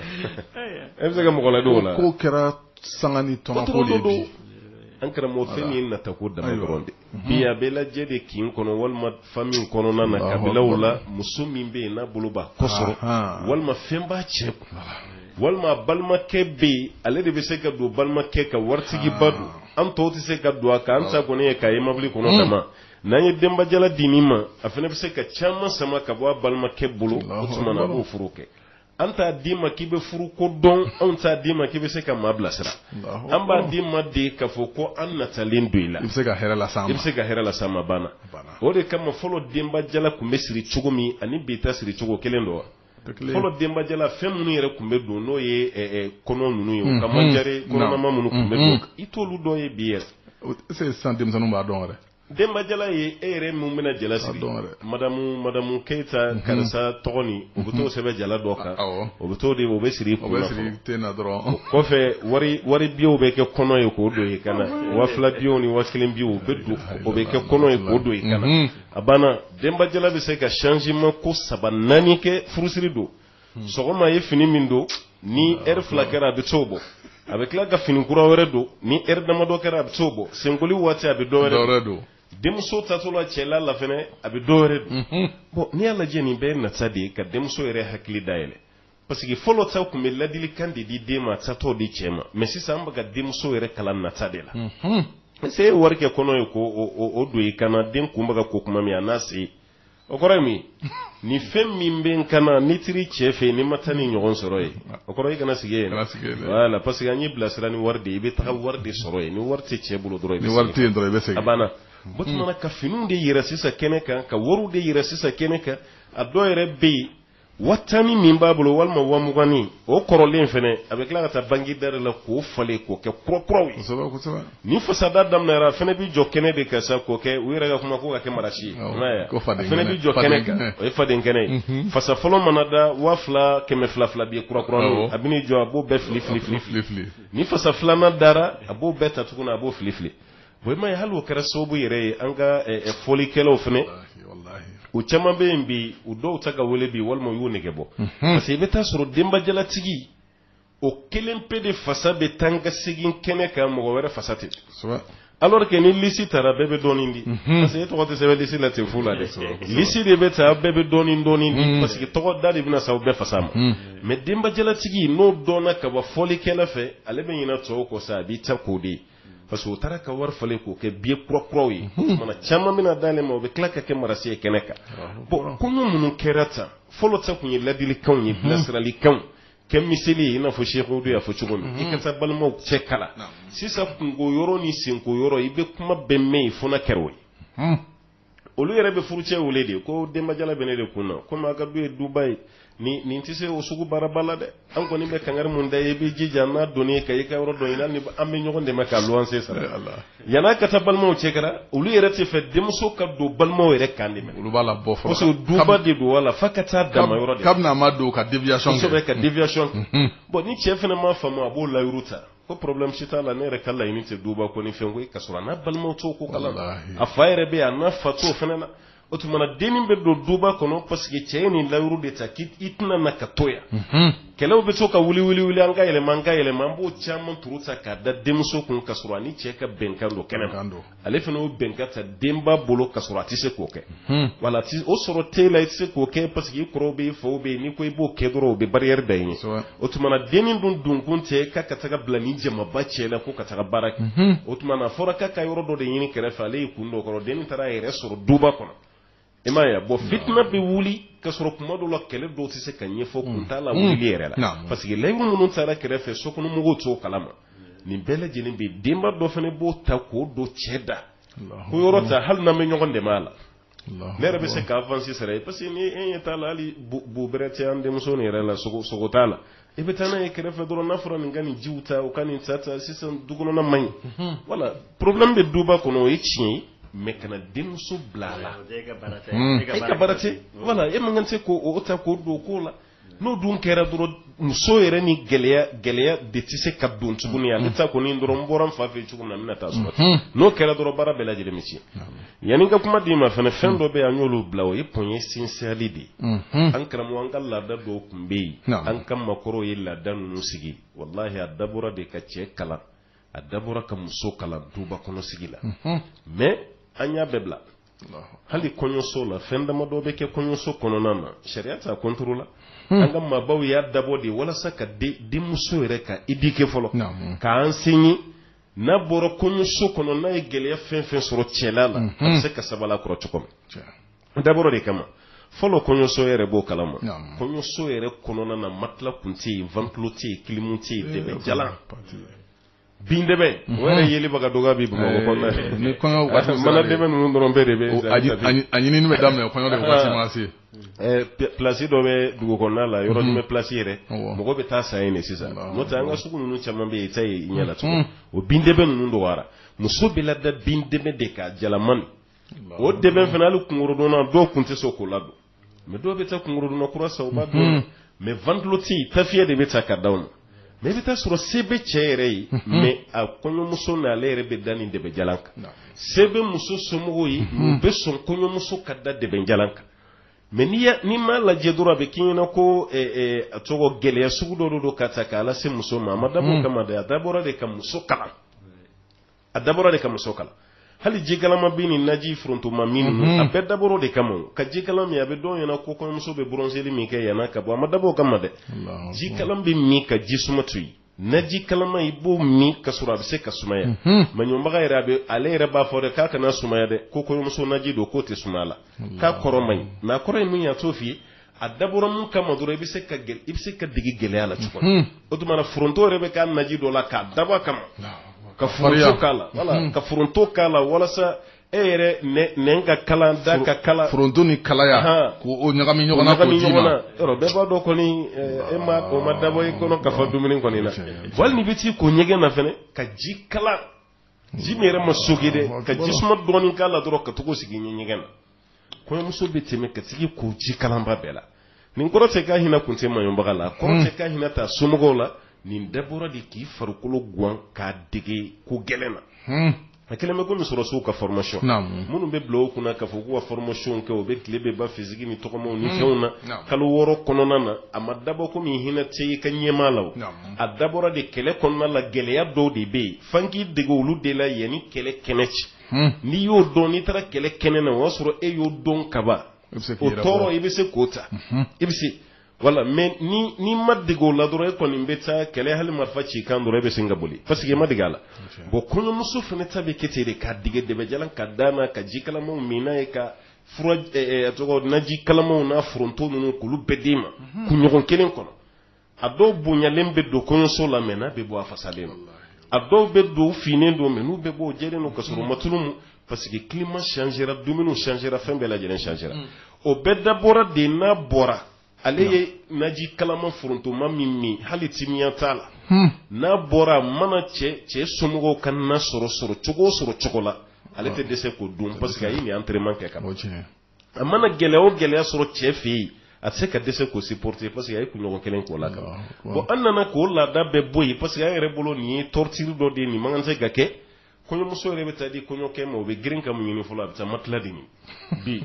e bɛ se ka mɔgɔ ladi o la ko kɛra sanga ni tɔnɔ ko de bi an karamɔgɔ fɛn min ye natako dama dɔrɔn de bi a bɛ lajɛ de kin kɔnɔ walima famille kɔnɔna na kabilaw la muso min bɛ yen n'a bolo b'a kɔ sɔrɔ walima fɛn b'a cɛ kun walima a balimakɛ bɛ yen ale de bɛ se ka don balimakɛ ka waritigiba don an tɔw tɛ se ka don a kan an ta kɔni ye k'a ye mobili kɔnɔ dama n'an ye denbajala di nin ma a fɛnɛ bɛ se ka caman sama ka bɔ a balimakɛ bolo o tuma na b'o furu kɛ an t'a d'i ma k'i bɛ furu ko dɔn anw t'a d'i ma k'i bɛ se ka maa bilasira an b'a d'i ma de k'a fɔ ko an natalen don i la i bɛ se ka hɛrɛ lase an ma a banna o de kama fɔlɔ denbajala tun bɛ siri cogo min ani bi ta siri cogo kelen don wa fɔlɔ denbajala fɛn minnu yɛrɛ tun bɛ don n'o ye kɔnɔ ninnu ye ka manjare kɔnɔnama minnu tun bɛ don i t'olu dɔ ye bi yɛrɛ est-ce sisan denmisɛnninw b'a dɔn yɛrɛ denbajala ye e yɛrɛ min bɛna jala siri madamu madamu keyita karisa tɔgɔ nin u bɛ t'o sɛbɛn jala dɔ kan o bɛ t'o de o bɛ siri o bɛ siri ten na dɔrɔn kɔfɛ wari wari biyew bɛ kɛ kɔnɔ ye k'o don i kan na waa fila biyew ni waa kelen biyew o bɛ don o bɛ kɛ kɔnɔ ye k'o don i kan na a banna denbajala bɛ se ka changement ko saba naani kɛ furusiri don hmm. sɔgɔma a ye fini min don ni ah, heure fila kɛra a bɛ t'o bɔ a bɛ tila ka fini kura wɛrɛ don ni heure damadɔ kɛra a bɛ t'o bɔ senkoli waati a bɛ dɔ wɛrɛ don denmuso taatɔ la cɛla la fɛnɛ a bɛ dɔ wɛrɛ don hmm. bon n'i y'a lajɛ nin bɛɛ ye nata de ye ka denmuso yɛrɛ hakili dayɛlɛ Parce que fɔlɔ sa an tun bɛ ladilikan de di den ma taatɔ de cɛ ma mais sisan an bɛ ka denmuso yɛrɛ kalan nata de la se ye wari kɛ kɔnɔ ye k'o don i kan na den kunba ka ko kuma min a n'a se o kɔrɔ ye mun ni fɛn min b'i kan na n'i taara i cɛ fɛ yen n'i ma taa nin ɲɔgɔn sɔrɔ yen o kɔrɔ i kana sigi yen na parce que an y'i bilasira ni wari de i bɛ taa wari de sɔrɔ yen ni wari tɛ cɛ bolo dɔrɔn bɛ a banna bamanan ka fini de yɛrɛ sisan kɛnɛ kan ka wari de yɛrɛ sisan kɛnɛ kan a dɔw yɛrɛ bɛ yen waa tan ni min b'a bolo walima waa mugannin o kɔrɔlen fana a bɛ tila ka taa banki da la k'o falen k'o kɛ kɔrɔkɔrɔw ye ni fasada daminɛna a fana bɛ jɔ kɛnɛ de kan sa k'o kɛ u yɛrɛ ka kuma ko ka kɛ marasi ye fana bɛ jɔ kɛnɛ kan o ye faden kɛnɛ ye mhm. fasa fɔlɔ mana da waa fila kɛmɛ fila fila bɛ ye kɔrɔkɔrɔ a bɛ jɔ a b'o bɛɛ fili fili fili fili ni fasa filanan dara a b'o bɛɛ ta tuguni a b'o fili fili i m'a ye hali o kɛra sababu yɛrɛ ye an ka eh, eh, fɔlikɛlaw fana Walahi, walahi. u caman bɛ yen bi u dɔw tɛ ka wele bi walima u y'u nege bɔ Mhm. parce que i bɛ taa sɔrɔ denbajalatigi o kelen pe de fasa bɛ taa ka segin kɛnɛ kan mɔgɔ wɛrɛ fasa tɛ Kosɛbɛ. alors que ni lisi tara bɛɛ bɛ dɔɔnin di Mhm. parce que e tɔgɔ tɛ sɛbɛn lisi la ten fu la dɛ Kosɛbɛ, kosɛbɛ. lisi de bɛ ta bɛɛ bɛ dɔɔnin dɔɔnin di Mhm. parce que tɔgɔ da de bɛna sa u bɛɛ fasa ma Mhm. mais denbajalatigi n'o dɔnna ka bɔ fɔlikɛla fɛ ale bɛ ɲinɛ tɔw kɔ sa a b'i ta k'o de ye parce que u taara ka wari falen k'o kɛ biye kura kuraw ye mana caman bɛna dalen ma o bɛ tila ka kɛ marasi ye kɛnɛ kan bɔn kɔɲɔ minnu kɛra tan fɔlɔ ta tun ye ladilikanw ye bilasiralikanw kɛ miseli ye i n'a fɔ Seku de y'a fɔ cogo min i ka taa balimaw cɛ kala sisan kunko yɔrɔ ni senko yɔrɔ i bɛ kuma bɛɛ mɛn yen fo kɛra o ye olu yɛrɛ bɛ furucɛ wele de ko denbajala bɛ ne de kun na komi a ka du ye duba ye nin nin tɛ se o sugu baaraba la dɛ an kɔni bɛ kangari min da i ye i bɛ jija n'a donni ka i ka yɔrɔ dɔ ɲini an bɛ ɲɔgɔn dɛmɛ ka luwanse sara yan'a ka taa balimaw cɛ la olu yɛrɛ tɛ fɛ denmuso ka don balimaw yɛrɛ kan dɛ olu b'a labɔ fɔlɔ parce que duba de don wala fa ka taa dama yɔrɔ de kabini a ma don ka deviation kɛ kosɛbɛ ka deviation kɛ bon ni cɛ fana ma faamu a b'o layuru ta ko problème si t'a la ne yɛrɛ ka laɲini tɛ duba ko ni fɛn ko ye ka sɔrɔ a n'a balimaw t'o ko kalama a fa yɛrɛ bɛ yan a n'a fa t'o fana na o tuma na dennin bɛ don duba kɔnɔ parce que cɛ ye nin layuru de ta k'i tɛna na ka to yan mhm. kɛlɛw bɛ to ka wuli wuli wuli an ka yɛlɛma an ka yɛlɛma an b'o caman turu ta k'a da denmuso kun ka sɔrɔ a ni cɛ ka bɛnkan don kɛnɛ kan ale fana o bɛnkan ta denba bolo ka sɔrɔ a tɛ se k'o kɛ wala o sɔrɔ t'i la i tɛ se k'o kɛ parce que i kɔrɔw bɛ i faw bɛ yen n'i ko i b'o kɛ dɔrɔn u bɛ barrière da i ye o tuma na dennin dun donkun tɛ k'a ka taga bila nin jamaba cɛ la ko ka taga baara kɛ o tuma na a fɔra k'a ka yɔrɔ dɔ de ɲini kɛrɛfɛ ale y'i kun don a kɔrɔ dennin taara a yɛrɛ sɔrɔ duba kɔnɔ i m'a ye bɔn fitinɛ bɛ wuli ka sɔrɔ kun ma dɔn a la kɛlɛ dɔw tɛ se ka ɲɛfɔ mm. kun t'a la mm. wuli yɛrɛ la mm. parce que layuru minnu tara kɛrɛfɛ sokɔnɔmɔgɔw t'o kalama nin bɛɛ lajɛlen bɛ denba dɔ fana b'o ta k'o don cɛ da ko yɔrɔ ta hali n'an bɛ ɲɔgɔn dɛmɛ a la ne yɛrɛ bɛ se ka avansi sara i ye parce que ni e ɲɛ t'a la hali bu bɛrɛ tɛ an denmuso nin yɛrɛ la sogo t'a la i bɛ taa n'a ye kɛrɛfɛ dɔrɔn n'a fɔra nin ka nin jiw ta u ka nin ta ta sisan du kɔnɔna man ɲi mhm. wala problème bɛ duba kɔnɔ o ye tiɲɛ ye mais kana denmuso bila a la e ka baara tɛ hmm. e wala e man kan se k'o ta k'o don o ko la n'o dun kɛra dɔrɔn muso yɛrɛ ni gɛlɛya gɛlɛya de tɛ se ka don tuguni ale ta kɔni dɔrɔn n bɔra n fa fɛ cogo min na n bɛna taa sɔrɔ ten mhm. n'o kɛra dɔrɔn baara bɛɛ lajɛlen bɛ tiɲɛ Yanni ka kuma d'i ma fana fɛn dɔw bɛ yen an y'olu bila o ye point essentiel de ye an karamɔgɔ an ka laada dɔw tun bɛ yen an ka makɔrɔw ye laada ninnu sigi walahi a dabɔ de ka cɛ kalan a dabɔ ka muso kalan duba kɔnɔ sigi la mɛ an y'a bɛɛ bila hali kɔɲɔso la fɛn dama dɔw bɛ kɛ kɔɲɔso kɔnɔna na sariya t'a kɔntoro la an ka makɔrɔbaw y'a dabɔ de ye walasa ka denmuso yɛrɛ k'a éduquer fɔlɔ k'a enseigner n'a bɔra kɔɲɔso kɔnɔ n'a ye gɛlɛya fɛn o fɛn sɔrɔ cɛla la a bɛ se ka sabali a kɔrɔ cogo min a dabɔra o de kama fɔlɔ kɔɲɔso yɛrɛ bon kalama kɔɲɔso yɛrɛ kɔnɔna na matila kun tɛ yen ventilo tɛ yen kilimu tɛ yen dɛbɛ jalan bin dɛbɛ o yɛrɛ yeliba ka dɔgɔ bi bamakɔ kɔnɔna fɛ mana dɛbɛ ninnu dɔrɔn bɛɛ de bɛ a ɲinini bɛ daminɛ kɔɲɔ de waati ma se plasi dɔ bɛ dugu kɔnɔna la yɔrɔ jumɛn plasi yɛrɛ mɔgɔ bɛ taa a san yen sisan n'o tɛ an ka sugu ninnu caman bɛ yen i t'a ye i ɲɛ na tuguni o bin dɛbɛ ninnu dɔgɔyara muso bɛ lada bin dɛbɛ de kan jalanmani o dɛbɛ fana hali kunkɔrɔdonnan dɔw tun tɛ sɔn k'o ladon mɛ dɔw bɛ taa kunkɔrɔdonnan kura san u b'a don mɛ ventilo tɛ tafiyɛ de bɛ ta ka d'a ma mɛ i bɛ taa sɔrɔ se bɛ cɛ yɛrɛ ye mɛ a kɔɲɔmuso na ale yɛrɛ bɛ da nin dɛbɛjalan kan se bɛ muso somɔgɔw ye u bɛ sɔn kɔɲɔmuso ka da dɛbɛjalan kan mɛ n'i m'a lajɛ dɔrɔn a bɛ k'i ɲɛna ko a tɔgɔ gɛlɛya sugu dɔ don ka ta k'a lase muso ma a ma dabɔ o kama dɛ a dabɔra de ka muso kalan a dabɔra de ka muso kalan hali jikalama bɛ ni naji forontoma min ninnu mhm. a bɛɛ dabɔra o de kama ka jikalan min a bɛ dɔw ɲɛna ko kɔɲɔmuso bɛ bronzeli min kɛ yanni a ka bɔ a ma dabɔ o kama dɛ jikalan bɛ min ka ji suma to yen naji kalama i b'o min ka sɔrɔ a bɛ se ka sumaya mhm. maɲɔbaga yɛrɛ a bɛ ale yɛrɛ b'a fɔ dɛ k'a kana sumaya dɛ ko kɔɲɔmuso naji don k'o tɛ sumaya la k'a kɔrɔ man ɲi mɛ a kɔrɔ ye min ye a t'o f'i ye a dabɔra min kama dɔrɔn i bɛ se ka gɛ- i bɛ se ka dege gɛlɛya la cogo min. Mhm. o tuma na foronto yɛrɛ bɛ k'a naji dɔ la k'a dabɔ a kama k'a farinya. foronto k'a la wala Mhm. ka foronto k'a la walasa e yɛrɛ nɛ- nɛn ka kala da ka kala foronto ni kalaya Ahan. k'o ɲagami ɲɔgɔn na k'o ɲagami d'i ɲɔgɔn ma na yɔrɔ bɛɛ b'a dɔn kɔni eh, e ma o ma dabɔ i kɔnɔ ka fa dumuni kɔni na Tiɲɛ, tiɲɛ. hali n'i bɛ t'i ko ɲɛgɛn na fɛnɛ ka ji kalan ji min yɛrɛ ma soge dɛ ka ji suma dɔɔni k'a la dɔrɔn ka t'o sigi i ɲɛ ɲɛgɛn na kɔɲɔmuso bɛ tɛmɛ ka sigi ko ji kalanba bɛɛ la nin kɔrɔ tɛ k'a hinɛ kun tɛ maɲɔbaga la kɔrɔ tɛ k'a hinɛ t'a somɔgɔw la nin bɛɛ dabɔra de k'i farikolo gwan k'a dege ko gɛlɛn na a kɛlen bɛ komi sɔrɔsiw ka formation minnu bɛ bila u kunna k'a fɔ k'u ka formation kɛ u bɛ tile bɛ ba fisiki ni tɔgɔmaw ni fɛnw na kalo wɔɔrɔ kɔnɔna na a ma dabɔ komi hinɛ tɛ i ka ɲɛmaa la o a dabɔra de kɛlɛ kɔnɔna la gɛlɛya dɔw de bɛ yen f'an k'i dege olu de la yanni kɛlɛ kɛnɛ cɛ hmm. n'i y'o dɔn n'i taara kɛlɛ kɛnɛ na o y'a sɔrɔ e y'o dɔn kaban o tɔɔrɔ i bɛ se k'o ta hmm. i bɛ se wala mɛ ni n'i ma dege o la dɔrɔn e kɔni bɛ taa kɛlɛ hali marifa ci kan dɔrɔn e bɛ se ka boli parce que e ma dege a la bɔn kɔɲɔmuso fana ta bɛ kɛ ten de k'a dege dɛbɛjalan ka d'a ma ka ji kalamaw min n'a ye ka fura eh, eh, tɔgɔ naji kalamaw n'a foronto ninnu k'olu bɛɛ d'e ma mhm. kunɲɔgɔn kelen kɔnɔ a dɔw bonyalen bɛ don kɔɲɔso la mɛ n'a bɛ bɔ a fasalen ma a dɔw bɛ don finnen don mɛ n'u bɛ bɔ jɛ don ka sɔrɔ a ma tulu mu parce que kima sira dumuni sira fɛn bɛɛ lajɛlen sira mm. o bɛɛ dabɔra de n'a bɔra ale ye naji kalama forontoma min min hali timiya t'a la hmm. n'a bɔra mana cɛ cɛ somɔgɔw ka na sɔrɔ sɔrɔ cogo sɔrɔ cogo la ale tɛ dɛsɛ k'o dun parce que a ye nin entraînement kɛ kaban cɛ a mana gɛlɛya o gɛlɛya sɔrɔ cɛ fɛ yen a tɛ se ka dɛsɛ k'o supporter parce que a ye kunɲɔgɔn kelen k'o la kaban bon an nana k'o laada bɛɛ bɔ yen parce que an yɛrɛ bolo nin ye torture dɔ de ye nin man kan tɛ ka kɛ kɔɲɔmuso yɛrɛ bɛ taa di kɔɲɔkɛ ma o bɛ girin ka mun ɲini fɔlɔ a bɛ taa matela de ɲini bi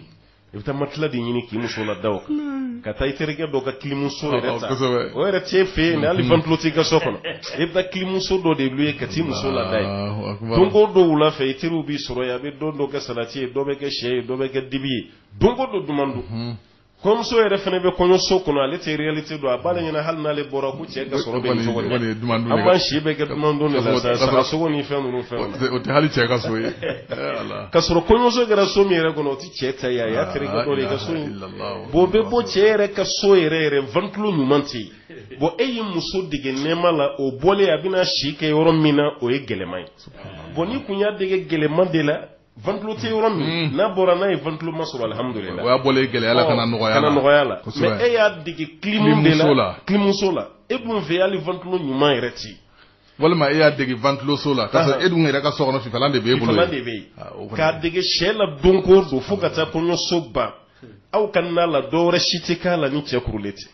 i bɛ taa matela de ɲini k'i muso lada o kan ka taa i terikɛ dɔ ka kilimuso yɛrɛ ta o yɛrɛ t'e fɛ yen hali ventilo t'i ka so kɔnɔ i bɛ kilimuso dɔ de ye ka t'i muso lada yen don ko don wula fɛ i teriw b'i sɔrɔ yen a bɛ don dɔ kɛ salati ye dɔ bɛ kɛ syɛ ye dɔ bɛ kɛ dibi ye don ko don duman dun kɔɲɔmuso yɛrɛ fana bɛ kɔɲɔso kɔnɔ ale tɛ réalité dɔn a b'a ɲɛ na hali n'ale bɔra ko cɛ ka sɔrɔ bɛ an b'an si bɛ kɛ duman dun de la sagasogo ni fɛn ninnu fɛn o tɛ hali cɛ ka so ye ka sɔrɔ kɔɲɔso kɛra so min yɛrɛ kɔnɔ o tɛ cɛ ta ye a y'a terikɛ dɔ de ka so in bon bɛ bɔ cɛ yɛrɛ ka so yɛrɛ yɛrɛ ventilo ɲuman tɛ yen bɔn e ye muso dege nɛɛma la o bɔlen a bɛna si kɛ yɔrɔ min na o ye gɛlɛman ye bɔn n'i kun y'a dege gɛlɛman de la ventilo tɛ yɔrɔ min hmm. n'a bɔra n'a ye ventiloma sɔrɔ alihamudulila o y'a bɔlen gɛlɛya la ka na nɔgɔya la ka na nɔgɔya la mɛ e y'a dege kilimu de la kilimuso la e dun fɛ hali ventilo ɲuman yɛrɛ tɛ walima e y'a dege ventiloso la k'a sɔrɔ e dun yɛrɛ ka so kɔnɔ fifalan de bɛ e bolo fifalan de bɛ yen ah, k'a dege syɛ la don ko don fo ka taa kɔɲɔso ban aw ka na la dɔwɛrɛ si tɛ k'a la ni jɛgɛ kurulen tɛ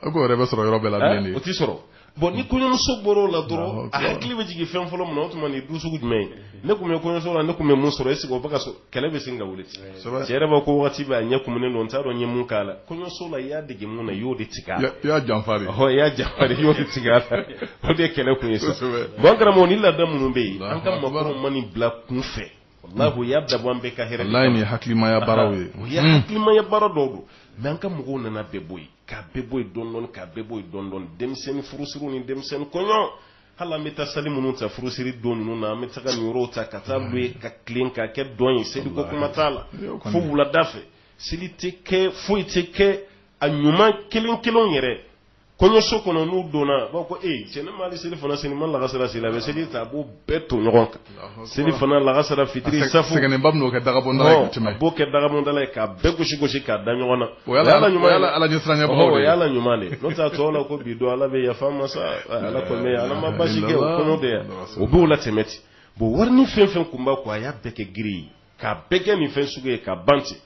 o ko yɛrɛ tɛ sɔrɔ yɔrɔ bɛɛ la bilen dɛ o tɛ sɔrɔ bɔn ni kɔɲɔmuso bɔra o la dɔrɔn a hakili bɛ jigin fɛn fɔlɔ min na o tuma nin du sugu jumɛn ye ne tun bɛ kɔɲɔso la ne tun bɛ mun sɔrɔ eseke o bɛ ka sɔrɔ kɛlɛ bɛ sin ka wuli cɛ yɛrɛ b'a ko waati bɛɛ a ɲɛ kumunen don n t'a dɔn n ye mun k'a la kɔɲɔso la i y'a dege mun na i y'o de tigɛ a la i y'a janfa de ɔ i y'a janfa de i y'o de tigɛ a la o de ye kɛlɛ kun ye sa bɔn karamɔgɔ nin laada minnu bɛ yen an ka mɔgɔkɔrɔw ma nin bila kunfɛ wallahi u y'a dabɔ an bɛɛ ka hɛrɛ wallahi nin ye hakilimaya baaraw ye o ye hmm. hakilimaya baara dɔw don mais an ka mɔgɔw nana bɛɛ bɔ yen k'a bɛɛ bɔ yen dɔɔni dɔɔni k'a bɛɛ bɔ yen dɔɔni dɔɔni denmisɛnnin furusiriw ni denmisɛnnin kɔɲɔ hali an bɛ taa salle minnu ta furusiri don ninnu na an bɛ taga nin yɔrɔw ta ka taa louer ka tilen ka kɛ dɔn ye seliko kuma t'a la fo wulada fɛ seli tɛ kɛ foyi tɛ kɛ a ɲuman kelen kelenw yɛrɛ kɔɲɔso kɔnɔ n'u donna a b'a fɔ ko ee cɛ ne m'ali selifana seli n ma lagasara seli a bɛ seli ta a b'o bɛɛ to ɲɔgɔn kan selifana lagasara fitiri safo sɛgɛnnenba bɛn'o kɛ dagabɔndala ye ka tɛmɛ a b'o kɛ dagabɔndala ye k'a bɛɛ gosi gosi k'a da ɲɔgɔn na o y'a la ɲuman ye ala ɲɛsiranbagaw o y'a la ɲuman de ye n'o tɛ a tɔw la ko bi don ala bɛ yafa ma sa ala kɔni bɛ ala ma basi kɛ o kɔnɔ bɛ yan o b'o latɛmɛ ten bon wari ni fɛn fɛn tun b'a kun a y'a bɛɛ kɛ giri ye k'a bɛɛ kɛ nin fɛn sugu ye ka ban ten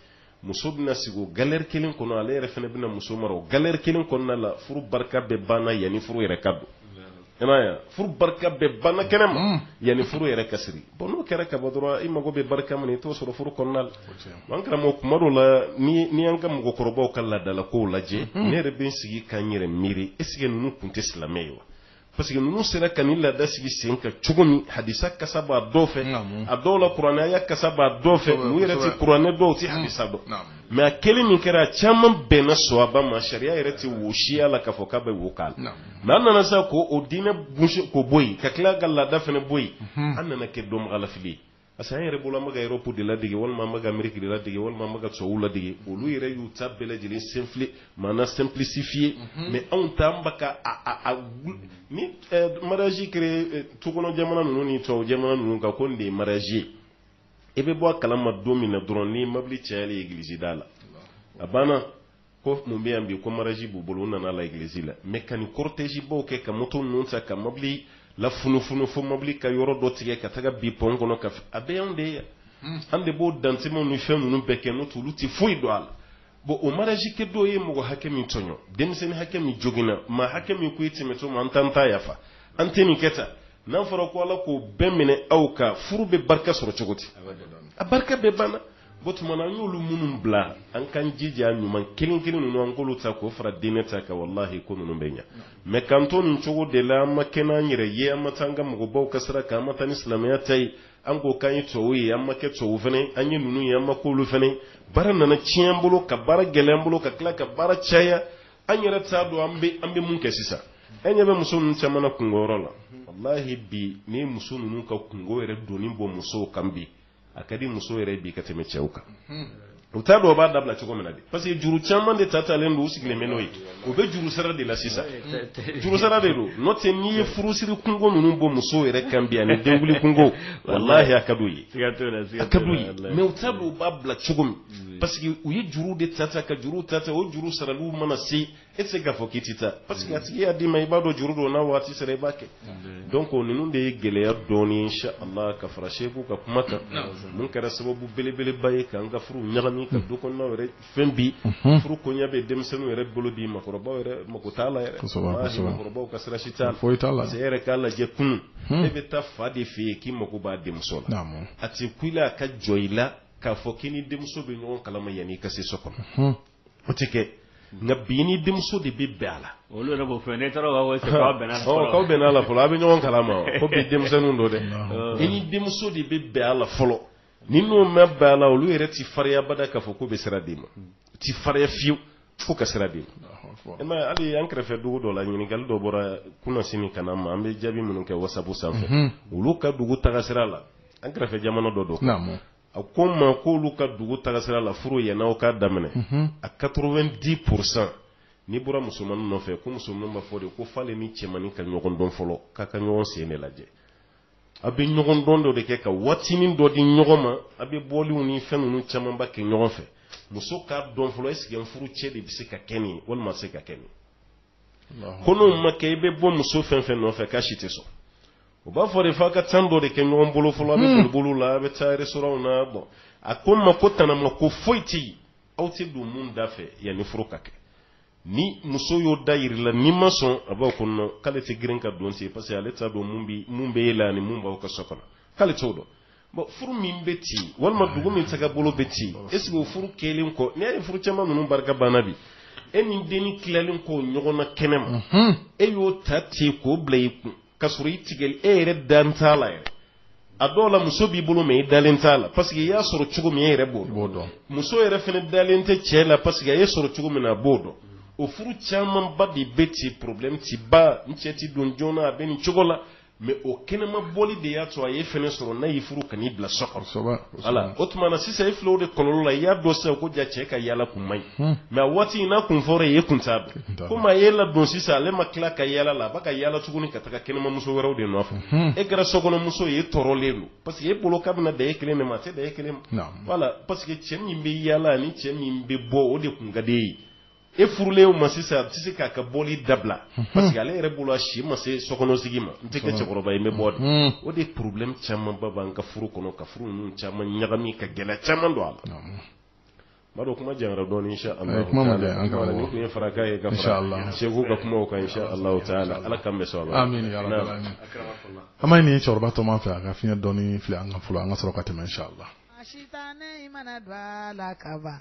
muso bɛna sigi o galɛri kelen kɔnɔ ale yɛrɛ fana bɛna muso mara o galɛri kelen kɔnɔna la furu barika bɛɛ banna yanni furu yɛrɛ ka don i m'a ye wa? furu barika bɛɛ banna kɛnɛ ma yanni furu yɛrɛ ka siri bɔn n'o kɛra ka bɔ dɔrɔn i mago bɛ barika min na i t'o sɔrɔ furu kɔnɔna la an karamɔgɔ kuma dɔw la ni n y'an ka mɔgɔkɔrɔbaw ka laadalakow lajɛ ne yɛrɛ bɛ n sigi ka n yɛrɛ miiri est ce que ninnu tun tɛ silamɛ ye wa parce que ninnu sera ka nin laada sigi sen kan cogo min hadisa kasa b'a dɔw fɛ a dɔw la kuranɛ aya kasa b'a dɔw fɛ n'u yɛrɛ tɛ kuranɛ dɔn u tɛ hadisa dɔn mɛ hakili min kɛra a caman bɛnna sawaba ma sariya yɛrɛ tɛ wo siya la k'a fɔ k'a bɛ wo k'a la mɛ an nana sa k'o diinɛ ko bɔ yen ka tila ka laada fana bɔ yen an nana kɛ dɔnbagalafili ye parce que an yɛrɛ bolo an bɛ ka Europe de ladege walima an bɛ ka Ameriki ladege walima an bɛ ka sogow ladege olu yɛrɛ y'u ta bɛɛ lajɛlen senfi maana simplifier mɛ anw ta ba ka ni mariage kɛra sokɔnɔ jamana ninnu ni tɔw jamana ninnu kan ko nin de ye mariage ye i bɛ bɔ a kalama don min na dɔrɔn ni mɔbili cayalen egilizi da la a banna ko mun bɛ yan bi ko mariage b'u bolo u nana legilizi la mɛ ka nin kɔritɛzibaw kɛ ka moto ninnu ta ka mɔbili lafunufunu fo mɔbili ka yɔrɔ dɔ tigɛ ka taga bin pɔn kɔnɔ ka a bɛɛ y'an de ye hmm. an de b'o dantɛmɛw ni fɛn ninnu bɛɛ kɛ n'o olu tɛ foyi don a la bɔn o mariage kɛtɔ u ye mɔgɔ hakɛ min tɔɲɔ denmisɛnnin hakɛ min joginna maa hakɛ min ko e tɛmɛtɔ ma an t'an ta yafa an tɛ nin kɛ ta n'a fɔra ko ala k'o bɛɛ minɛ aw ka furu bɛ barika sɔrɔ cogo di a barika bɛɛ banna Bon tuma na an y'olu minnu bila an ka jogo ɲuman kelen kelen ninnu an k'olu ta k'o fara diinɛ ta kan walahi ko ninnu bɛ ɲɛ mais k'an to nin cogo de la an ma kɛ n'an yɛrɛ ye an ma taa an ka mɔgɔbaw ka sira kan an ma taa ni silamɛya ta ye an ko k'an ye tubabu ye an ma kɛ tubabu fana an ye ninnu ye an ma k'olu fana baara nana tiɲɛ an bolo ka baara gɛlɛya an bolo ka tila ka baara caya an yɛrɛ t'a dɔn an bɛ an bɛ mun kɛ sisan an ɲɛ bɛ muso ninnu caman na kunko yɔrɔ la walahi bi ni muso ninnu ka kunko yɛrɛ doni bɔ musow kan bi a ka di muso yɛrɛ ye bi ka tɛmɛ cɛw kan u t'a dɔn u b'a dabila cogo min na de parce que juru caman de ta talen don u sigilen bɛ n'o ye u bɛ juru sara de la sisan juru sara de don n'o tɛ n'i ye furusiri kunko ninnu bɔ muso yɛrɛ kan bi ani denkundi kunko walahi a ka d'u ye a ka d'u ye mɛ u t'a dɔn u b'a bila cogo min parce que u ye juru de ta ta ka juru ta ta o juru saraliw mana se e tɛ se k'a fɔ k'i tɛ taa parce que a tigi y'a d'i ma i b'a dɔn juru don n'a waati sera i b'a kɛ donc ninnu de ye gɛlɛya dɔɔni insha Allah ka fara Seku ka kuma kan mun kɛra sababu belebeleba ye k'an ka furu ɲagami ka du kɔnɔnaw yɛrɛ fɛn bi furu koɲɛ bɛ denmisɛnninw yɛrɛ bolo bi makɔrɔbaw yɛrɛ mako t'a la yɛrɛ makɔrɔbaw ka sira si t'a la parce que e yɛrɛ k'a lajɛ kunun e bɛ taa fa de fɛ yen k'i mako b'a denmuso la a tɛ kun i la a ka jɔ i la k'a fɔ k'i ni denmuso bɛ ɲɔgɔn kalama yanni i ka se so kɔnɔ. o tɛ kɛ nka bi ni denmuso de bɛ bɛn a la olu yɛrɛ b'o fɛ n'e taara b'a fɔ k'aw bɛnna a la fɔlɔ k'aw bɛnna a la fɔlɔ a bɛ ɲɔgɔn kalama ko bi denmisɛnninw don dɛ i ni denmuso de bɛ bɛn a la fɔlɔ ni n'o mana bɛn a la olu yɛrɛ tɛ fariya bada k'a fɔ k'u bɛ sira d'i ma u tɛ fariya fiyewu fo ka sira d'i ma e ma hali an kɛrɛfɛ dugu dɔ la ɲininkali dɔ bɔra kunnasini ka na n ma an bɛ jaabi minnu kɛ wasapu sanfɛ olu ka dugu tagasira la an kɛrɛfɛ jamana dɔ don a ko n ma k'olu ka dugu tagasira la furu yanni o ka daminɛ a 90 pourcent n'i bɔra musomanin nɔfɛ ko musomanin b'a fɔ de ko f'ale ni cɛmanin ka ɲɔgɔn dɔn fɔlɔ k'a ka ɲɔgɔn sɔn de lajɛ a bɛ ɲɔgɔn dɔn dɔ de kɛ ka waatinin dɔ di ɲɔgɔn ma a bɛ bɔliw ni fɛn ninnu camanba kɛ ɲɔgɔn fɛ muso k'a dɔn fɔlɔ est ce que n furucɛ de bɛ se ka kɛ nin ye walima a se ka kɛ nin ye ko n'o ma kɛ i bɛ bɔ muso fɛn fɛn nɔfɛ k'a si tɛ sɔn u b'a fɔ de f'a ka temps dɔ de kɛ ɲɔgɔn bolo fɔlɔ a bɛ hmm. bolibolo la a bɛ taa restaurantw na bon a ko n ma ko tanamako foyi tɛ yen aw tɛ don min da fɛ yanni furu ka kɛ ni muso y'o da yir'i la n'i ma sɔn a b'aw kɔnɔ k'ale tɛ girin ka don ten parce que ale t'a dɔn mun bɛ e la ani mun b'aw ka so kɔnɔ k'ale t'o dɔn Bon furu min bɛ ci walima dugu min sɛgɛ bolo bɛ ci est ce que o furu kɛlen kɔ ne ye furu caman ninnu barika banna bi e ni den tilalen kɔ ɲɔgɔn na kɛnɛ ma e y'o ta ten k'o bila i kun ka sɔrɔ i tigi e yɛrɛ dalen t'a la yɛrɛ a dɔw la muso b'i bolo mais i dalen t'a la parce que i y'a sɔrɔ cogo min e yɛrɛ b'o b'o dɔn muso yɛrɛ fana dalen tɛ cɛ la parce que a y'i sɔrɔ cogo min na a b'o dɔn o furu camanba de bɛ ci problème tɛ ban cɛ tɛ don joona a bɛ nin cogo la mais o kɛnɛma bɔli de y'a to a y'e fɛnɛ sɔrɔ n'a y'i furu ka n'i bila so ala o tuma na sisan i fiw de kɔnɔ la i y'a dɔn sa ko jaa cɛ ka yalala ko man ɲi mais waati in n'a kun fɔra ye kun sa ko maa y'e ladon sisan ale ma tila ka yalala la a b'a ka yalala tuguni ka taa kɛnɛmamuso wɛrɛw de nɔfɛ e kɛra sokɔnɔmuso ye tɔɔrɔlen don parce que e bolo k'a bɛna dan e kelen de ma se dan e kelen ma voilà parce que cɛ min bɛ yalala ni cɛ min bɛ bɔ o de tun ka d'e ye e furulen ma sisan a tɛ se k'a ka bɔli dabila parce que ale yɛrɛ bolo a si ma se sokɔnɔsigi ma n tɛ kɛ cɛkɔrɔba ye n bɛ bɔ dɛ o de ye problème camanba bil'an ka furu kɔnɔ ka furu ninnu caman ɲagami ka gɛlɛya caman don a la n b'a dɔn kuma janyara dɔɔni insha Allah eh, kuma ma janya, an ka bɔ. nin tun ye farankan ye ka Insha Allah. fara Seku ka kumaw kan insha Allah taala Ala k'an bɛɛ sɔn a la Amin ya rabbal Naam. alamin. An b'a ɲini cɛkɔrɔba tɔma fɛ a ka fiɲɛ dɔɔni fili an kan fɔlɔ an ka sɔrɔ ka tɛmɛ inshallah. Sitanɛ i mana don a la ka ban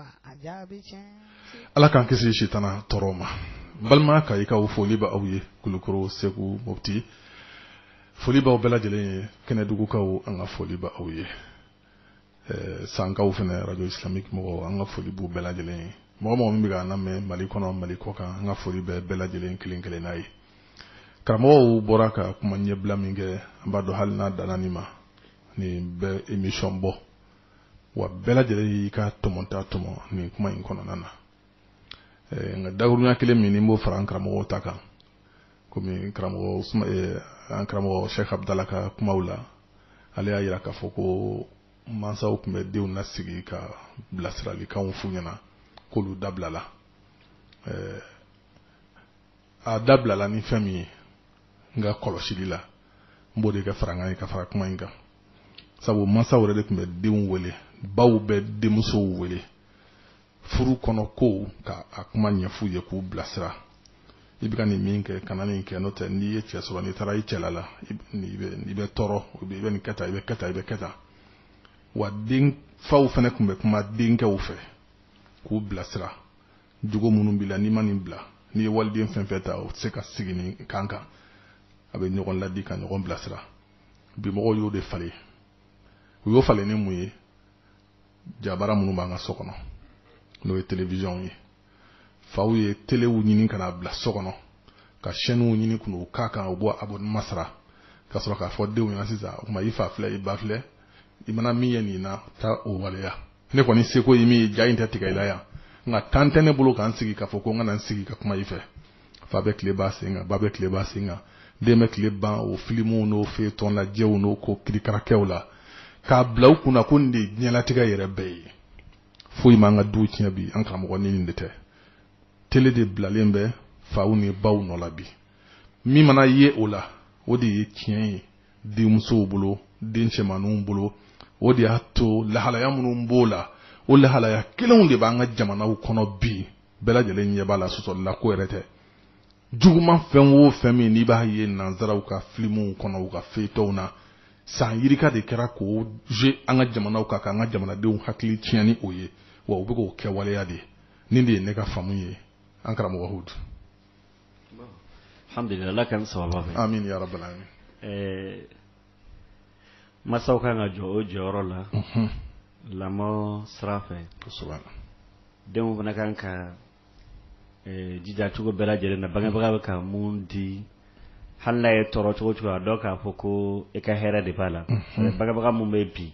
ala k'an kisi sitanɛ tɔɔrɔ ma balimakɛ ka foli b'aw ye kulukɔrɔ segu moti foli b'aw bɛɛ lajɛlen ye kɛnɛdugukaw an ka foli b'aw ye sankaw fana arajo silamɛmi mɔgɔ an ka foli bɛ bɛɛ lajɛlen ye mɔgɔ o mɔgɔ min bɛ an lamɛn mali kɔnɔ mali kɔkan an ka foli bɛ bɛɛ lajɛlen kelen kelenna ye karamɔgɔ bɔra ka kuma ɲɛbila min kɛ an b'a dɔn hali n'a danma nin bɛ imisɔn bɔ wa bɛɛ lajɛlen y'i ka tɔmɔta tɔmɔ nin kuma in kɔnɔna na nka dakurunya kelen min ne b'o fara an karamɔgɔw ta kan komi karamɔgɔ an karamɔgɔ Sheikh Abdala ka kumaw la ale y'a jira k'a fɔ ko mansaw tun bɛ denw lasigi ka bilasiralikanw f'u ɲɛna k'olu dabilala a dabilala ni fɛn min ye n ka kɔlɔsili la n b'o de kɛ farankan ye ka fara kuma in kan sabu mansaw yɛrɛ de tun bɛ denw wele baw bɛ denmusow wele furu kɔnɔ kow ka a kuma ɲɛf'u ye k'u bilasira i bɛ ka nin min kɛ kana nin kɛ n'o tɛ n'i ye cɛ sɔrɔ n'i taara i cɛla la i bɛ tɔɔrɔ i bɛ nin kɛ tan i bɛ kɛ tan i bɛ kɛ tan wa denfaw fana tun bɛ kuma denkɛw fɛ k'u bilasira jogo minnu b'i la n'i ma nin bila n'i ye waliden fɛn o fɛn ta o tɛ se ka sigi nin kan kan a bɛ ɲɔgɔn laadi ka ɲɔgɔn bilasira bi mɔgɔw y'o de falen u y'o falen ni mun ye jabara minnu b'an ka so kɔnɔ n'o ye telewisiyɔnw ye faw ye telew ɲini ka n'a bila so kɔnɔ ka sɛniw ɲini ka n'u k'a kan u b'o abonnement sara ka sɔrɔ k'a fɔ denw ɲɛna sisan o tuma i fa filɛ i ba filɛ i mana min ye nin na taa o waleya ne kɔni seko ye min ye ja in tɛ tigɛ i la yan nka tan tɛ ne bolo k'an sigi k'a fɔ ko n kana n sigi ka kuma i fɛ fa bɛ tile ban a sen kan ba bɛ tile ban a sen kan den bɛ tile ban o filimuw n'o feyetɔn lajɛw n'o ko kirikarakɛw la k'a bila u kunna ko nin de ye diɲɛlatigɛ yɛrɛ bɛɛ ye foyi m'an ka duw tiɲɛ bi an karamɔgɔ ni nin de tɛ tele de bilalen bɛ faw ni baw nɔ la bi min mana ye o la o de ye tiɲɛ ye denmusow bolo den cɛmanninw bolo o de y'a to lahalaya minnu b'o la o lahalaya kelenw de b'an ka jamanaw kɔnɔ bi bɛɛ lajɛlen ɲɛ b'a la sɔsɔli la ko yɛrɛ tɛ juguman fɛn o fɛn min n'i b'a ye nanzaraw ka filimuw kɔnɔ u ka feyitɔnw na san yirika de kɛra k'o jigi an ka jamanaw kan k'an ka jamanadenw hakili tiɲɛ ni o ye wa u bɛ k'o kɛwaleya de nin de ye ne ka faamu ye an karamɔgɔ hud Ala ka saba masaw ka kan ka jɔ u jɔyɔrɔ la lamɔ sira fɛ denw fana kan ka jija cogo bɛɛ lajɛlen na bangebaga bɛ ka min di hali n'a y'i tɔɔrɔ cogo o cogo a dɔn k'a fɔ ko e ka hɛrɛ de b'a la bangebaga minnu bɛ bi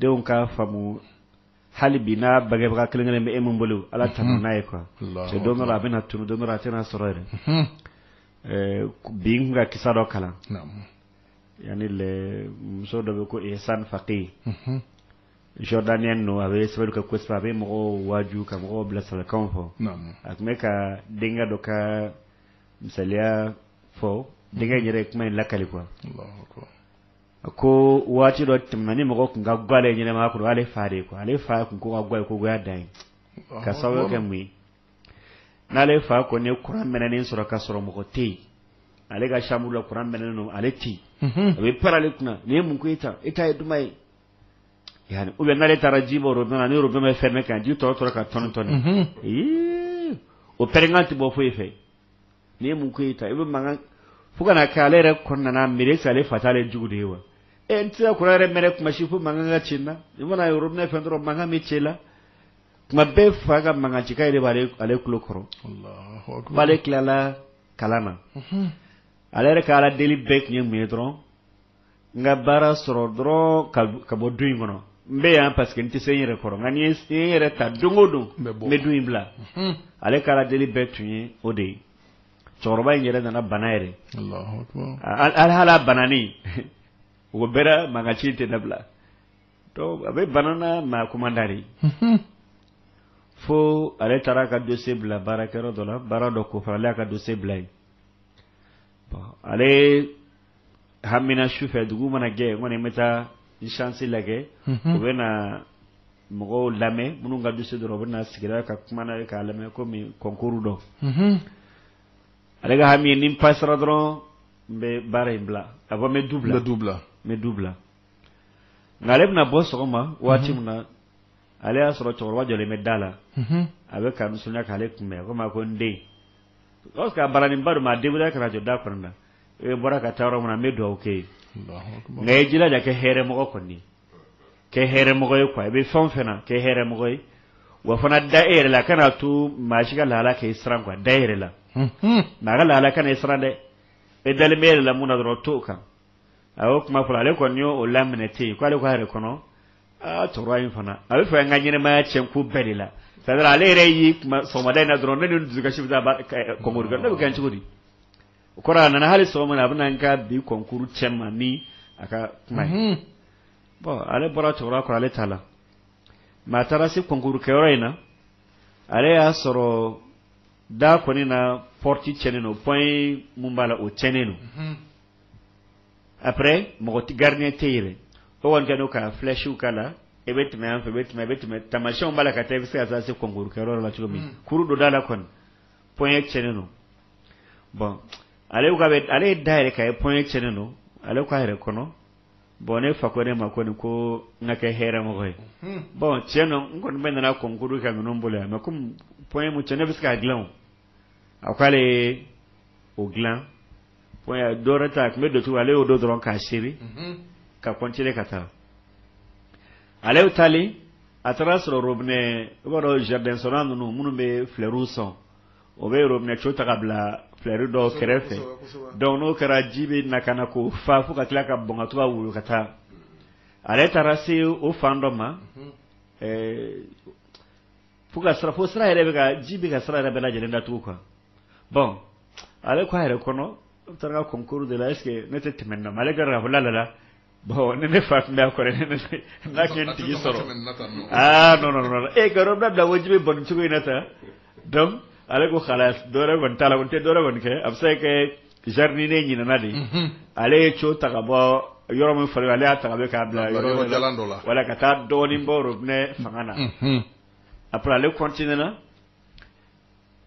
denw ka faamu hali bi n'a bangebaga kelenkelen bɛ e min bolo ala tan n'a ye quoi cɛ don a bɛna na tun don a tɛna sɔrɔ yɛrɛ bi n ka kisa dɔ kalan yan muso dɔ bɛ ko e san fake ye jordanien don a bɛ sababu ka ko a bɛ mɔgɔw waju ka mɔgɔw bila sababukan fɔ a tun bɛ ka denkɛ dɔ ka misali fɔ denkɛ yɛrɛ kuma in lakali quoi A ko waati dɔ tɛmɛna ni mɔgɔ tun ka go ale ɲɛnama kɔrɔ ale fa de ale fa tun ko ka go kogoya da ye ka sababu kɛ mun ye n'ale fa kɔni ye kuran mɛnen sɔrɔ ka sɔrɔ mɔgɔ tɛ yen ale ka chambre la kuran mɛnen don ale tɛ a bɛ pɛrɛn ale kunna nin ye mun e ta e ta ye duman ye yan u bɛ n'ale taara ji bɔ dɔn n' yɔrɔ bɛ fɛn kan ji tɔ tora ka toni toni o pɛrɛnkan tɛ bɔ foyi fɛ n'i ye mun ko e ta i bɛ mankan fo ka na kɛ ale yɛrɛ kɔnɔna miiri sa ale fa tɛ ale jugu de ye wa e n tɛ kuma yɛrɛ mɛn kuma si fo mankan ka ci n na i mana yɔrɔ ne fɛn dɔrɔn mankan bɛ ci i la tuma bɛɛ fa ka mankan cikan yɛrɛ b'ale ale tulo kɔrɔ bon ale tilala kalan na ale yɛrɛ ka aladeli bɛɛ tun ye mun ye dɔrɔn n ka baara sɔrɔ dɔrɔn ka ka bɔ du in kɔnɔ n bɛ yan parce que n tɛ se n yɛrɛ kɔrɔ nka ni n ye n yɛrɛ ta don o don n bɛ du in bila ale ka aladeli bɛɛ tun ye o de ye cɛkɔrɔba in yɛrɛ nana bana yɛrɛ hali hali a bananen o bɛɛ mankan ci tɛ dabila a bɛ bana na mais kuma da de fo ale taara a ka dossier bila baarakɛyɔrɔ dɔ la baara dɔ ko fana ale y'a ka dossier bila yen ale hamina su fɛ dugu mana jɛ n kɔni bɛ taa n chance lajɛ u bɛ na mɔgɔw lamɛn minnu ka dossier dɔrɔn u bɛ na sigi ka kuma n'a ye k'a lamɛn komi concours don ale ka hami ni n pasara dɔrɔn n bɛ baara in bila a fɔ n bɛ du bila n bɛ du bila n bɛ du bila nka ale bɛna bɔ sɔgɔma waati min na ale y'a sɔrɔ cɛkɔrɔba jɔlen bɛ da la a bɛ ka nisɔndiya k'ale kunbɛn komi a ko n den parce que a bananenba don mais a débrouilla ka na jɔ da kɔnɔna na e bɔra ka taa yɔrɔ min na n bɛ dugawu kɛ i ye nka i jilaja kɛ hɛrɛmɔgɔ kɔni kɛ hɛrɛmɔgɔ ye quoi i bɛ fɛn o fɛn na kɛ hɛrɛmɔgɔ ye wa fana da e yɛrɛ la kana to maa si ka lahala k'e siran quoi da e yɛrɛ la nka a ka lahala kana e siran dɛ e dalen bɛ e yɛrɛ la mun na dɔrɔn to o kan a y'o kuma fɔ ale kɔni y'o laminɛ ten yen k'ale ko a yɛrɛ kɔnɔ aa cɛkɔrɔba in fana a b'a fɛ an ka ɲɛnamaya tiɲɛ ko bɛɛ de la c'est à dire ale yɛrɛ y'i kuma sɔgɔmada in na dɔrɔn ne ni n dusukasi bɛ taa concours kɛ ne bɛ kɛ cogo di o kɔrɔ a nana hali sɔgɔma na a bɛna n ka bi kɔnkuru cɛ ma ni a ka kuma ye mhm. bɔn ale bɔra cɛkɔrɔba kɔrɔ ale t'a lamɛn a taara se kɔnkuru kɛyɔrɔ in na ale y'a sɔrɔ da kɔni na pɔrɔti cɛnnen don pɔn min b'a la o cɛnnen don mhm. après mɔgɔ tɛ gardien tɛ yen o kɔni kɛlen don ka flèche k'a la e bɛ tɛmɛ yan fɛ e bɛ tɛmɛ e bɛ tɛmɛ tamasiyɛnw b'a la ka taa i bɛ se ka taa se kɔnkuru kɛyɔrɔ la cogo min mhm. kuru don da la kɔni pɔn cɛnnen don bɔn ale ale ye da yɛlɛ ka ye pɔn ye cɛnnen don ale k'a yɛrɛ kɔnɔ bɔn ne fa ko ne ma ko nin ko n ka kɛ hɛrɛɛmɔgɔ ye bɔn cɛ n kɔni bɛ nana kɔnkuru ka minnu bolo yan mɛ kɔmi pɔn ye mu cɛ ne bɛ se k'a dilan a ko ale o dilan pɔn dɔwɛrɛ ta tun bɛ dontu ale y'o don dɔrɔn k'a sɛri ka kɔntine ka taa ale bɛ taalen a taara sɔrɔ robinɛ i b'a dɔn jardin sɔn ninnu minnu bɛ filɛriw sɔn o bɛ yɔrɔ minɛ k'a bila filɛri dɔ kɛrɛfɛ dɔnku n'o kɛra ji bɛ na ka na k'o fa fo ka tila ka bɔn ka woyo ka taa ale taara se o fan dɔ ma fo ka sɔrɔ fo sira yɛrɛ bɛ ka ji bɛ ka sira yɛrɛ bɛɛ lajɛlen datugu kan bɔn ale k' a yɛrɛ kɔnɔ taara ka kɔnkuru de la ese ne tɛ tɛmɛ na ale kɛra ka fɔ lala Bon ne ne fa tun bɛ kɔrɔ n'a tun n tigi sɔrɔ aa nɔnɔ robinɛ bila ji bɛ bɔn cogo in na sa dɔn ale ko hali dɔwɛrɛ kɔni t'a la ko tɛ dɔwɛrɛ kɔni kɛ a bɛ se kɛ zaridiniye ɲinana de ale ye tiyo ta ka bɔ yɔrɔ min fara ale y'a ta bɛ k'a bila yɔrɔ wɛrɛ la ka taa dɔɔnin bɔ a fanga na a ale kɔntinena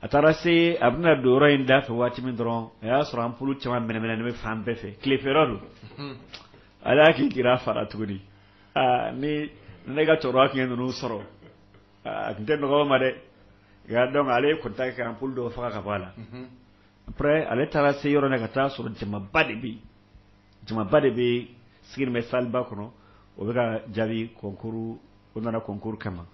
a taara se a bɛna don yɔrɔ in da fɛ waati min dɔrɔn a y'a sɔrɔ anpulu caman mɛnɛnen bɛ fan bɛɛ fɛ tile fɛ don a hakili jigira a fa la tuguni ni ne ka cɛkɔrɔba tun ye ninnu sɔrɔ a tun tɛ nɔgɔ ma dɛ dɔn ale ye kɔntaki anpulu dɔw faga ka bɔ a la ale taara se yɔrɔ na ka taa sɔrɔ jamaba de bɛ jamaba de bɛ sigi bɛ saliba kɔnɔ o bɛ ka jaabi kɔnkuru o nana kɔnkuru kama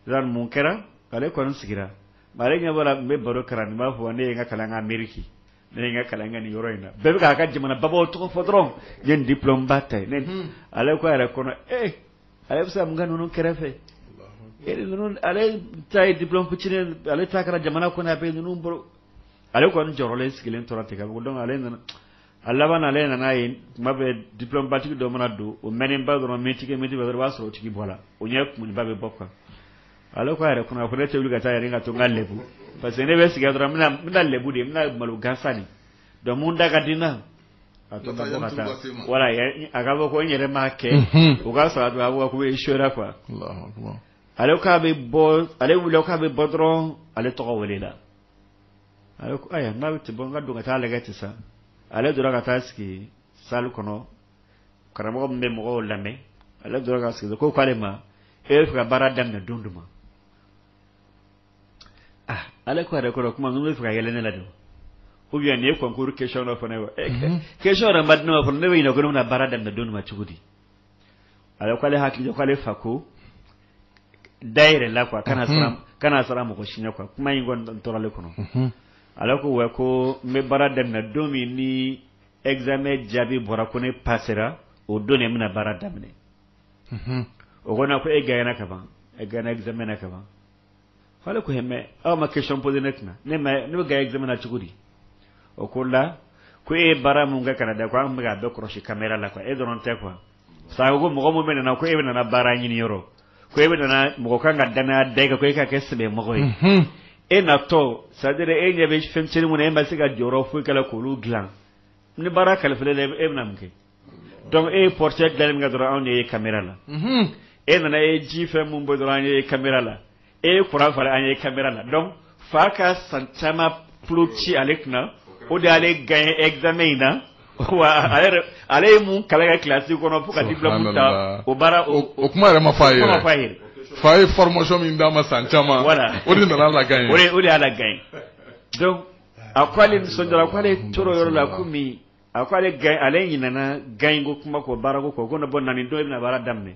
mun kɛra ale kɔni sigira ale ɲɛ bɔra bɛ baro kɛ la nin b'a fɔ ne ye n ka kalan kɛ Ameriki ne ye n ka kalan kɛ nin yɔrɔ in na bɛɛ b'a ka jamana baba tɔgɔ fɔ dɔrɔn ye di ba ta ye ale ko a yɛrɛ kɔnɔ e ale bɛ se mun ka ninnu kɛrɛfɛ ale ta ye di kuc ale ta kɛra jamana kɔnɔ a bɛ ninnu bolo ale kɔni jɔrɔlen sigilen tora ten ka dɔn ale nana a laban ale nana ye kuma bɛ dibatigi dɔ mana don o mana bɔ dɔrɔn min tigi mɛtigi b'a sɔrɔ o tigi bɔla o ɲɛ kunba bɛ bɔ kan ale ko a yɛrɛ kɔnɔ ko ne tɛ wuli ka taa yɛrɛ ka to n kana lɛbu parce que ne bɛ sigi dɔrɔn n bɛna lɛbu de n bɛna malo gansan de dɔnku da ka di na a to ka taa wala a ka bɔ ko n yɛrɛ m'a kɛ o k'a sɔrɔ a don a bɔ ko i sora qu ale k'a bɛ bɔ ale wulila k'a bɛ bɔ dɔrɔn ale tɔgɔ welela A ko ayiwa n'a bɛ ten bɔ n ka don ka taa lajɛ ten sa ale donna ka taa sigi salle kɔnɔ karamɔgɔ min bɛ mɔgɔw lamɛn ale tora ka sigi ko k'ale ma e bɛ fɛ ka baara daminɛ don jumɛn ma ale ko yɛrɛ kɔrɔ kuma n bɛ fɛ ka yɛlɛ ne la don u yan nin ye concours question dɔ fana wa ke yɛrɛ ma di ne ma fɔlɔ ne bɛ ɲɛna ko ne bɛna baara daminɛ don min cogo di a k'ale hakili k'ale fa ko da yɛrɛ la ko a kana mhm. kana siran mɔgɔ si ɲɛ ko a kuma in kɔni tora ale kɔnɔ mhm. alors ko a ko n bɛ baara daminɛ don min ni examen jaabi bɔra ko ne pasera o don ne bɛna baara daminɛ mhm. o kɔnɔ ko e gaɲɛna ka ban e gaɲɛna examen na ka ban fa ko mais aw ma question posé ne tɛna ne ne bɛ gaɲɛna cogo di o ko la ko e baara min kɛ kana da ko an bɛ a bɛɛ kɔlɔsi kamera la e dɔrɔn tɛ ko a sa ko mɔgɔ min bɛ na ko e bɛ nana baara ɲini yɔrɔ ko e bɛ mɔgɔ kan ka dan da kan ko e ka kɛ sɛbɛ mɔgɔ ye e na tɔ sa e ɲɛ bɛ fɛnmisɛn kɔnɔ e ma se ka jɔyɔrɔ foyi k'olu dilan ni baara kalifa e bɛna mun kɛ donc e ye porte da min dɔrɔn anw y'a ye kamera la e nana e ye fɛn min bɔ dɔrɔn an y'a ye kamera la e ye kuran faga an y'a ye kamera la donc fa ka san caman ci ale kunna o de y'ale gaɲɛ examen in na wa ale ye mun kalan kilasi kɔnɔ fo ka di ta o baara o kuma yɛrɛ ma fa ye fa ye fa ye formation min d'a ma san caman voilà o de nana a lagaɲɛ o de y'a lagaɲɛ a ko ale nisɔn ko ale tɔɔrɔ yɔrɔ la ko min a ko ale gaɲɛ ale ɲinana gaɲɛ ko kuma kɔ baarako kɔ ko ne bɔ nani don e bɛna baara daminɛ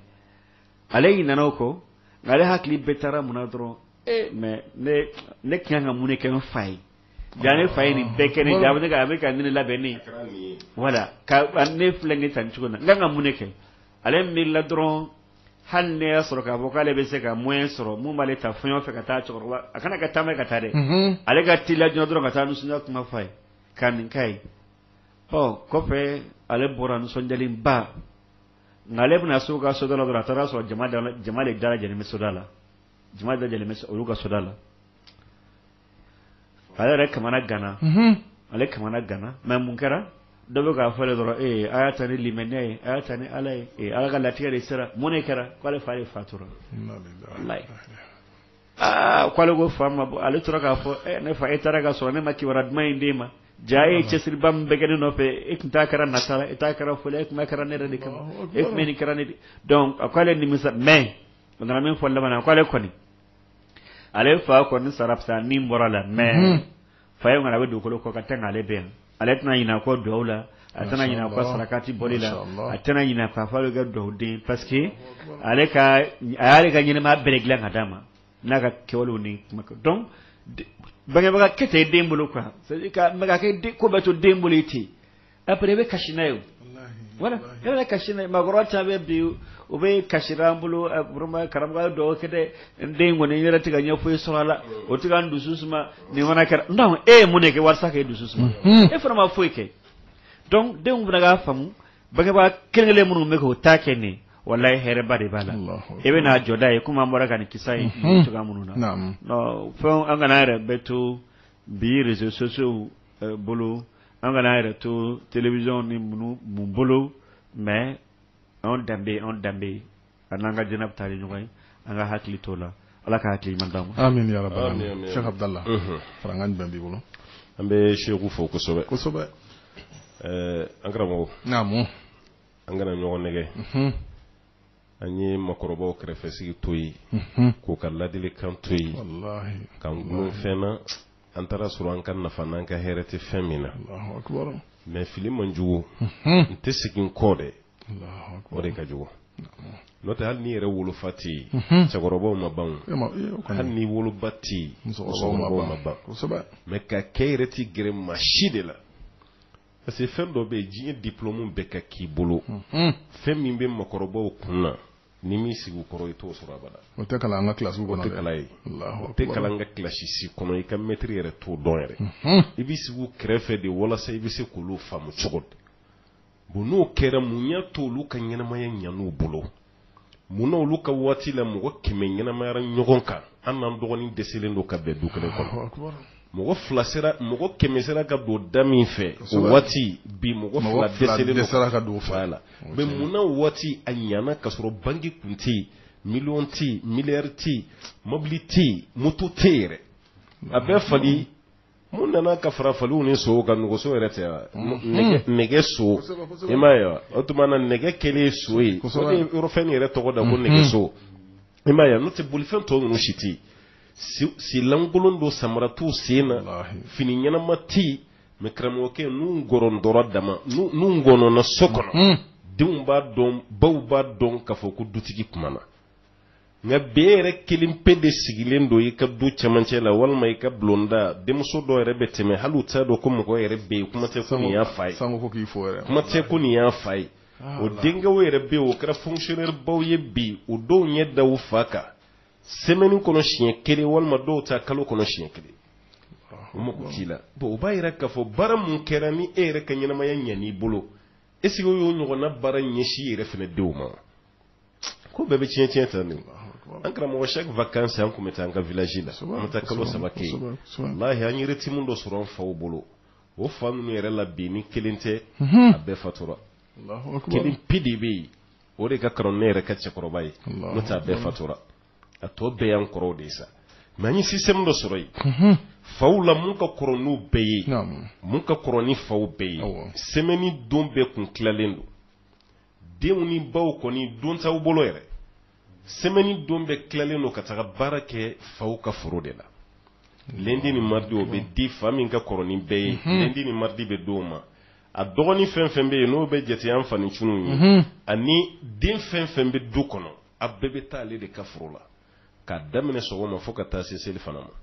ale ɲinana o kɔ nka ale hakili bɛɛ taara mun na dɔrɔn ee mais ne ne kan ka mun de kɛ n fa ye ja ne fa ye nin bɛɛ kɛ ne ja a bɛ ne ka a bɛ ka ne labɛn ne wala ka ne filɛ ne ta nin cogo na n kan ka mun de kɛ ale miirila dɔrɔn hali ne y'a sɔrɔ k'a fɔ k'ale bɛ se ka moyen sɔrɔ min b'ale ta fɛn o fɛn ka taa cɛkɔrɔba a kana ka taama ka taa dɛ ale ka teliya joona dɔrɔn ka taa nisɔndiya kuma f'a ye ka nin k'a ye o kɔfɛ ale bɔra nisɔndiyalenba nka ale bɛna se u ka soda la dɔrɔn a taara sɔrɔ jama jama de dalajɛlen bɛ soda la jama dalajɛlen bɛ olu ka soda la ale yɛrɛ kamanaganna ale kamanaganna mais mun kɛra dɔ bɛ k'a fɔ dɔrɔn ee a y'a ta ni limaniya ye a y'a ta ni ala ye ala ka latigɛ de sera mun de kɛra k'ale fa de fatura aa k'ale ko fa ma bɔ ale tora k'a fɔ eh, ne fa e taara ka sɔrɔ ne ma kibaruya duman in d'e ma ja e ye cɛsiriba min bɛɛ kɛ ne nɔfɛ e tun t'a kɛra nata la e t'a kɛra foli e tun b'a kɛra ne yɛrɛ de kama e tun bɛ nin kɛra ne de donc a ko ale nimisa mais o nana min fɔ laban na a ko ale kɔni ale fa kɔni sara fisa min bɔra la mais fa ye mara bɛ dugukolo kɔ ka tɛmɛ ale bɛ yan ale tɛna ɲinɛ kɔ dugawu la a tɛna ɲinɛ kɔ sarakati bɔli la a tɛna ɲinɛ k'a fɔ a bɛ kɛ dugawuden parce que ale ka a y'ale ka ɲɛnamaya bɛɛ de dilan ka d'a ma n'a ka kɛwalew ni kuma donc bangebaga kɛ tɛ den bolo quoi c'est à dire ka mais ka kɛ ko bɛɛ to den bolo ye ten après i bɛ kasi n'a ye o, walahi, voilà walahi. ne bɛ kasi n'a ye maakɔrɔba caman bɛ bi u bɛ kasi la an bolo eh, vraiment karamɔgɔ ye dugawu kɛ dɛ n den in kɔni n yɛrɛ tɛ ka ɲɛ foyi sɔrɔ a la o tɛ ka n dusu suma nin fana kɛra donc e ye mun de kɛ walasa k'e dusu suma Mhm. e fana ma foyi kɛ donc denw fana k'a faamu bangebaa kelen kelen minnu bɛ k'o ta kɛ nin ye, walahi hɛrɛba de b'a la Allahu i bɛn'a jɔda ye komi an bɔra ka nin kisa ye Mhm. cogoya minnu na Naamu. Non, fɛn an kana an yɛrɛ bɛɛ to bi réseaux sociaux bolo an kana an yɛrɛ to télévision ni mun mun bolo mais an danbe an danbe a n'an ka diinɛ bɛ taa ɲɔgɔn ye an ka hakili to o la ala ka hakili man la fara an danbe bolo an bɛ segu fɔ kosɛbɛ kosɛbɛ an karamɔgɔ an kana ɲɔgɔn nɛgɛ an ye makɔrɔba kɛrɛfɛ sigi to yen k'u ka ladilikan to yen k'an fɛn na an taar'a sɔrɔ an ka nafa n'an ka hɛrɛ tɛ fɛn min na mais fili man jugu n tɛ segin kɔ dɛ o de ka jugu n'o tɛ hali n'i yɛrɛ wolofa tɛ yen cɛkɔrɔbaw ma ban hali n'i woloba tɛ yen musokɔrɔbaw ma ban mais k'a kɛ i yɛrɛ tɛ gɛrɛ maa si de la parce que fɛn dɔ bɛ yen diɲɛ diplôme bɛɛ ka k'i bolo fɛn min bɛ makɔrɔbaw kun na n'i m'i sigi u kɔrɔ i t'o sɔrɔ abada o tɛ kalan an ka kilasi kɔnɔ tɛ kalan ye o tɛ kalan an ka kilasi si kɔnɔ i ka mɛtiri yɛrɛ t'o dɔn yɛrɛ mhm. i b'i sigi u kɛrɛfɛ de walasa i bɛ se k'olu faamu cogo di bon n'o kɛra mun y'a to olu ka ɲɛnamaya ɲan'u bolo mun na olu ka waati la mɔgɔ kɛmɛ ɲɛnamayara ɲɔgɔn kan an n'an dɔgɔnin dɛsɛlen don ka bɛn du kelen kɔnɔ mɔgɔ fila sera mɔgɔ kɛmɛ sera ka don da min fɛ o waati bi mɔgɔ fila dɛsɛlen don sera ka don fa la mais munna o waati a ɲana ka sɔrɔ banki compte tɛ yen miliyɔn tɛ yen miliyari tɛ yen mobili tɛ yen moto tɛ yen yɛrɛ a bɛɛ fali mun nana ka fara faliw ni sow kan nɛgɛso yɛrɛ tɛ wa nɛgɛ nɛgɛ so i m'a ye wa o tuma na nɛgɛ kɛlen so ye o de ye yɔrɔ fɛn yɛrɛ tɔgɔ da ko nɛgɛso i m'a ye wa n'o tɛ bolifɛn tɔ ninnu si tɛ yen Senlankolon don samara t'u sen na fini ɲɛnama tɛ mais karamɔgɔkɛ n gɔnɔn dɔrɔn dama n gɔnɔnna so kɔnɔ denw b'a dɔn baw b'a dɔn k'a fɔ ko dutigi kumana nka bi e yɛrɛ kelen pe de sigilen don i ka du cɛmancɛ la walima i ka bulonda denmuso dɔw yɛrɛ bɛ tɛmɛ hali t'a dɔn ko mɔgɔ yɛrɛ bɛ yen kuma tɛ fɛn min y'a fa ye kuma tɛ ko nin y'a fa ye o denkɛ yɛrɛ bɛ o kɛra fonctionnaire baw ye bi o dɔw ɲɛ da fa kan semaine kɔnɔ siɲɛ kelen walima dɔw ta kalo kɔnɔ siɲɛ kelen o mako t'i la bon o b'a yira k'a fɔ baara min kɛra ni e yɛrɛ ka ɲɛnamaya ɲan'i bolo est ce que o y'o ɲɔgɔnna baara ɲɛsin i yɛrɛ fana denw ma ko bɛɛ bɛ tiɲɛ tiɲɛ ta nin an karamɔgɔ chaque vacances an tun bɛ taa an ka village la an bɛ taa kalo saba kɛ yen walahi an ye rythme dɔ sɔrɔ an faw bolo o fa ninnu yɛrɛ la bi ni kelen tɛ a bɛɛ fatura kelen pe de bɛ yen o de ka kɔrɔ ne yɛrɛ ka cɛkɔrɔba ye n'o t'a bɛɛ fatura a tɔ bɛɛ y'an kɔrɔw de ye sa mɛ n ye système dɔ sɔrɔ yen faw la minnu ka kɔrɔ n'u bɛɛ ye minnu ka kɔrɔ ni faw bɛɛ ye semaine don bɛɛ tun tilalen don denw ni baw kɔni don t'aw bolo yɛrɛ semaine don bɛɛ tilalen don ka taga baara kɛ faw ka foro de la lundi ni mardi o bɛ di fa min ka kɔrɔ ni bɛɛ ye lundi ni mardi bɛ di' ma a dɔgɔnin fɛn fɛn bɛ yen n'o bɛ jate an fa ncinin ye ani den fɛn fɛn bɛ du kɔnɔ a bɛɛ bɛ taa ale de ka foro la k'a daminɛ sɔgɔma fo ka taa se selifana ma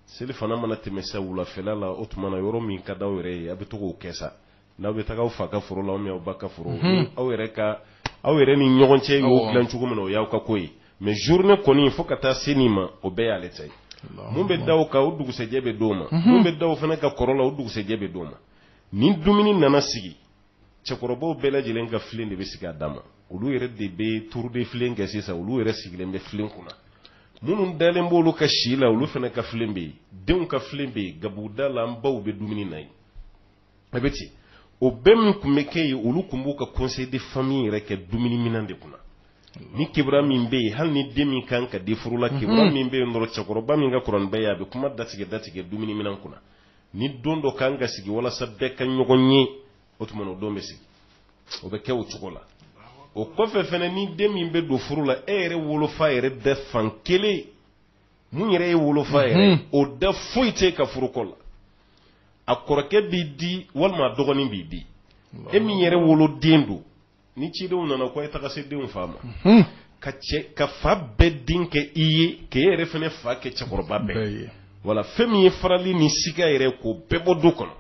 selifana mana tɛmɛ sa wulafɛla la o tuma na yɔrɔ min ka di aw yɛrɛ ye a bɛ to k'o kɛ sa n'aw bɛ taa aw fa ka foro la aw ba ka foro aw yɛrɛ ka aw yɛrɛ ni ɲɔgɔn cɛ y'o dilan cogo min na o y'aw ka ko ye mɛ journée nin kɔni fo ka taa se ma o bɛɛ y'ale ta ye minnu bɛ d'a kan o dugusɛjɛ bɛ di' ma minnu bɛ d'a fana kan kɔrɔ la o dugusɛjɛ bɛ di' ma ni dumuni nana sigi cɛkɔrɔbaw bɛɛ lajɛlen ka filen de bɛ sigi a dan ma olu yɛrɛ de bɛ tour de filen kɛ sisan olu yɛrɛ sigilen bɛ filen kunna minnu dalen b'olu kan si la olu fana ka filen bɛ yen denw ka filen bɛ yen gabuguda la an baw bɛ dumuni na yen a bɛ ten o bɛɛ min tun bɛ kɛ yen olu tun b'u ka conseil de famille yɛrɛ kɛ dumuni minɛn de kunna ni kibaru min bɛ yen hali ni den min kan ka di furu la kibaru min bɛ yen dɔrɔn cɛkɔrɔba min ka kɔrɔ ni bɛɛ ye a bɛ kuma datigɛ datigɛ dumuni minɛn kunna ni don dɔ kan ka sigi walasa bɛɛ ka ɲɔgɔn ye o tuma o don bɛ sigi o bɛ kɛ o cogo la o kɔfɛ fana ni den min bɛ don furu la e yɛrɛ wolofa yɛrɛ da fan kelen min yɛrɛ y'i wolofa yɛrɛ mhm. o da foyi t'i ka furuko la a kɔrɔkɛ b'i di walima a dɔgɔnin b'i di e min yɛrɛ woloden don ni cidenw nana ko a ye taga se denw fa ma hmm. ka cɛ ka fa bɛɛ den kɛ i ye k'e yɛrɛ fana fa kɛ cɛkɔrɔba bɛɛ ye wala fɛn min ye farali ni siga yɛrɛ k'o bɛɛ bɔ du kɔnɔ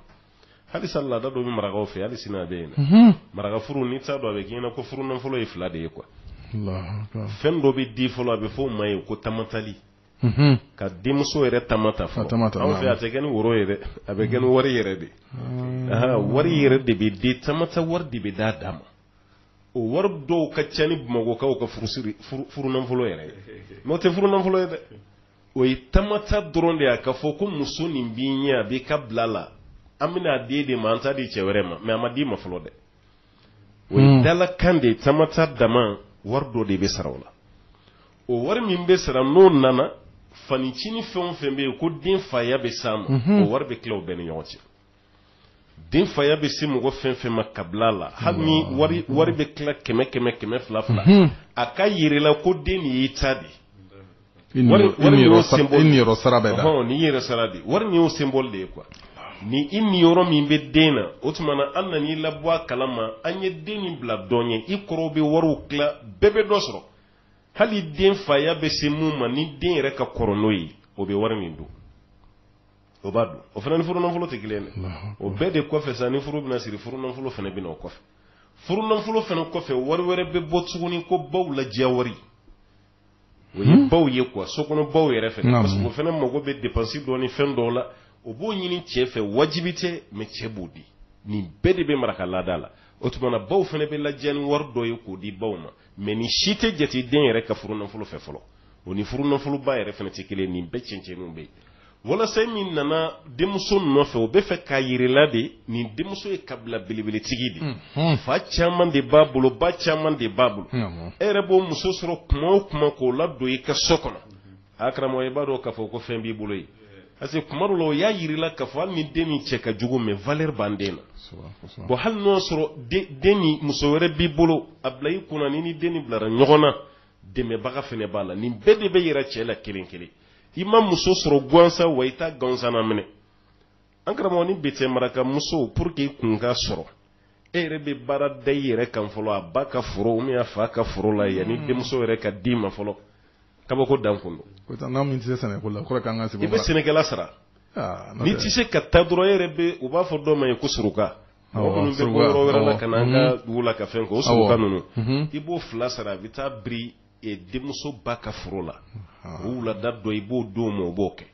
halisa laada dɔ bɛ marakaw fɛ hali sini a bɛ yen hmm. maraka furu n'i t'a dɔn a bɛ k'i ɲɛna ko furu nafolo ye fila de ye quoi fɛn dɔ bɛ di fɔlɔ a bɛ fɔ o ma ye ko tamatali ka denmuso yɛrɛ tama ta fɔlɔ anw fɛ a tɛ kɛ ni woro ye dɛ a bɛ kɛ ni wari yɛrɛ de wari yɛrɛ de bɛ den tama ta wari de bɛ d'a d'a ma o wari dɔw ka ca ni bamakɔkaw ka furusiri furunafolo yɛrɛ ye n'o tɛ furunafolo ye dɛ o ye tama ta dɔrɔn de ye k'a fɔ ko muso nin b'i ɲɛ a b'i ka bila la an bɛna a d'e de ma an t'a di cɛ wɛrɛ ma mɛ a ma d'i ma fɔlɔ dɛ o ye dalakan de ye tama ta dama wari dɔ de bɛ sara o la o wari min bɛ sara n'o nana fanincinin fɛn o fɛn bɛ yen ko den faya bɛ s'a ma mhm. o wari bɛ tila o bɛɛ ni ɲɔgɔn cɛ den faya bɛ se mɔgɔ fɛn fɛn ma kabila la hali ni wari wari bɛ tila kɛmɛ kɛmɛ kɛmɛ fila fila mhm. a k'a yir'i la ko den de y'i ta de i niyɔrɔ sara bɛ da n'i yɛrɛ sara de wari nin y'o symbole de ye quoi ni i niyɔrɔ min bɛ den na o tuma na an nan'i labɔ a kalama an ye den nin bila dɔ ye i kɔrɔw bɛ wariw tila bɛɛ bɛ dɔ sɔrɔ hali den faya bɛ se min ma ni den yɛrɛ ka kɔrɔ n'o ye o bɛ wari min dun o b'a dun o fana ni furunafolo tɛ kelen dɛ o bɛɛ de kɔfɛ sa ni furu bɛna siri furunafolo fana bɛna o kɔfɛ furunafolo fana kɔfɛ wari wɛrɛ bɛ bɔ tuguni ko baw lajɛ wari o ye baw ye quoi sokɔnɔ baw yɛrɛ fɛ parce que o fana mago bɛ depansi dɔ ni fɛn dɔw la o b'o ɲini cɛ fɛ wajibi tɛ mais cɛ b'o di nin bɛɛ de bɛ maraka laada la o tumana baw fana bɛ lajɛ ni wari dɔ ye k'o di baw ma mais nin si tɛ jate den yɛrɛ ka furunafolo fɛ fɔlɔ o ni furunafoloba yɛrɛ fana tɛ kelen nin bɛɛ cɛncɛnninw bɛ yen walasa i min nana denmuso nɔfɛ o bɛ fɛ k'a yir'i la de nin denmuso ye kabila belebeletigi de mhm. fa caman de b'a bolo ba caman de b'a bolo e yɛrɛ b'o muso sɔrɔ kuma o kuma k'o ladon i ka so kɔnɔ a karamɔgɔ i b'a dɔn k'a fɔ ko fɛn b'i bolo ye parce que kuma dɔ la o y'a yir'i la k'a fɔ hali ni den nin cɛ ka jugu mais valeur b'an den na bon hali n'o y'a sɔrɔ den nin muso wɛrɛ b'i bolo a bila i kunna ni ni den nin bilara ɲɔgɔn na dɛmɛbaga fana b'a la nin bɛɛ de bɛ yira cɛ la kelen kelen i ma muso sɔrɔ gansan wa i t'a gansanna minɛ an karamɔgɔ ni bete maraka musow pour que kun ka sɔrɔ e yɛrɛ bɛ baara da i yɛrɛ kan fɔlɔ a ba ka foro ou bien a fa ka foro la yanni hmm. denmuso yɛrɛ ka d'i ma fɔlɔ kabako dan kun don. ko tan n'an min tɛ se sɛnɛko la kɔrɔ k'an ka sɛbɛn. i bɛ sɛnɛkɛla sara. Ah, n'i tɛ se ka taa dɔrɔn e yɛrɛ bɛ u b'a fɔ dɔw ma ye ko suruka. mɔgɔ minnu bɛ bɔ yɔrɔ wɛrɛ la ka na an ka hmm. dugu la ka fɛn kɛ o suruka ninnu hmm. i b'o fana sara a bɛ taa biri e denmuso ba ka foro la o wulada dɔ i b'o d'o ma o b'o kɛ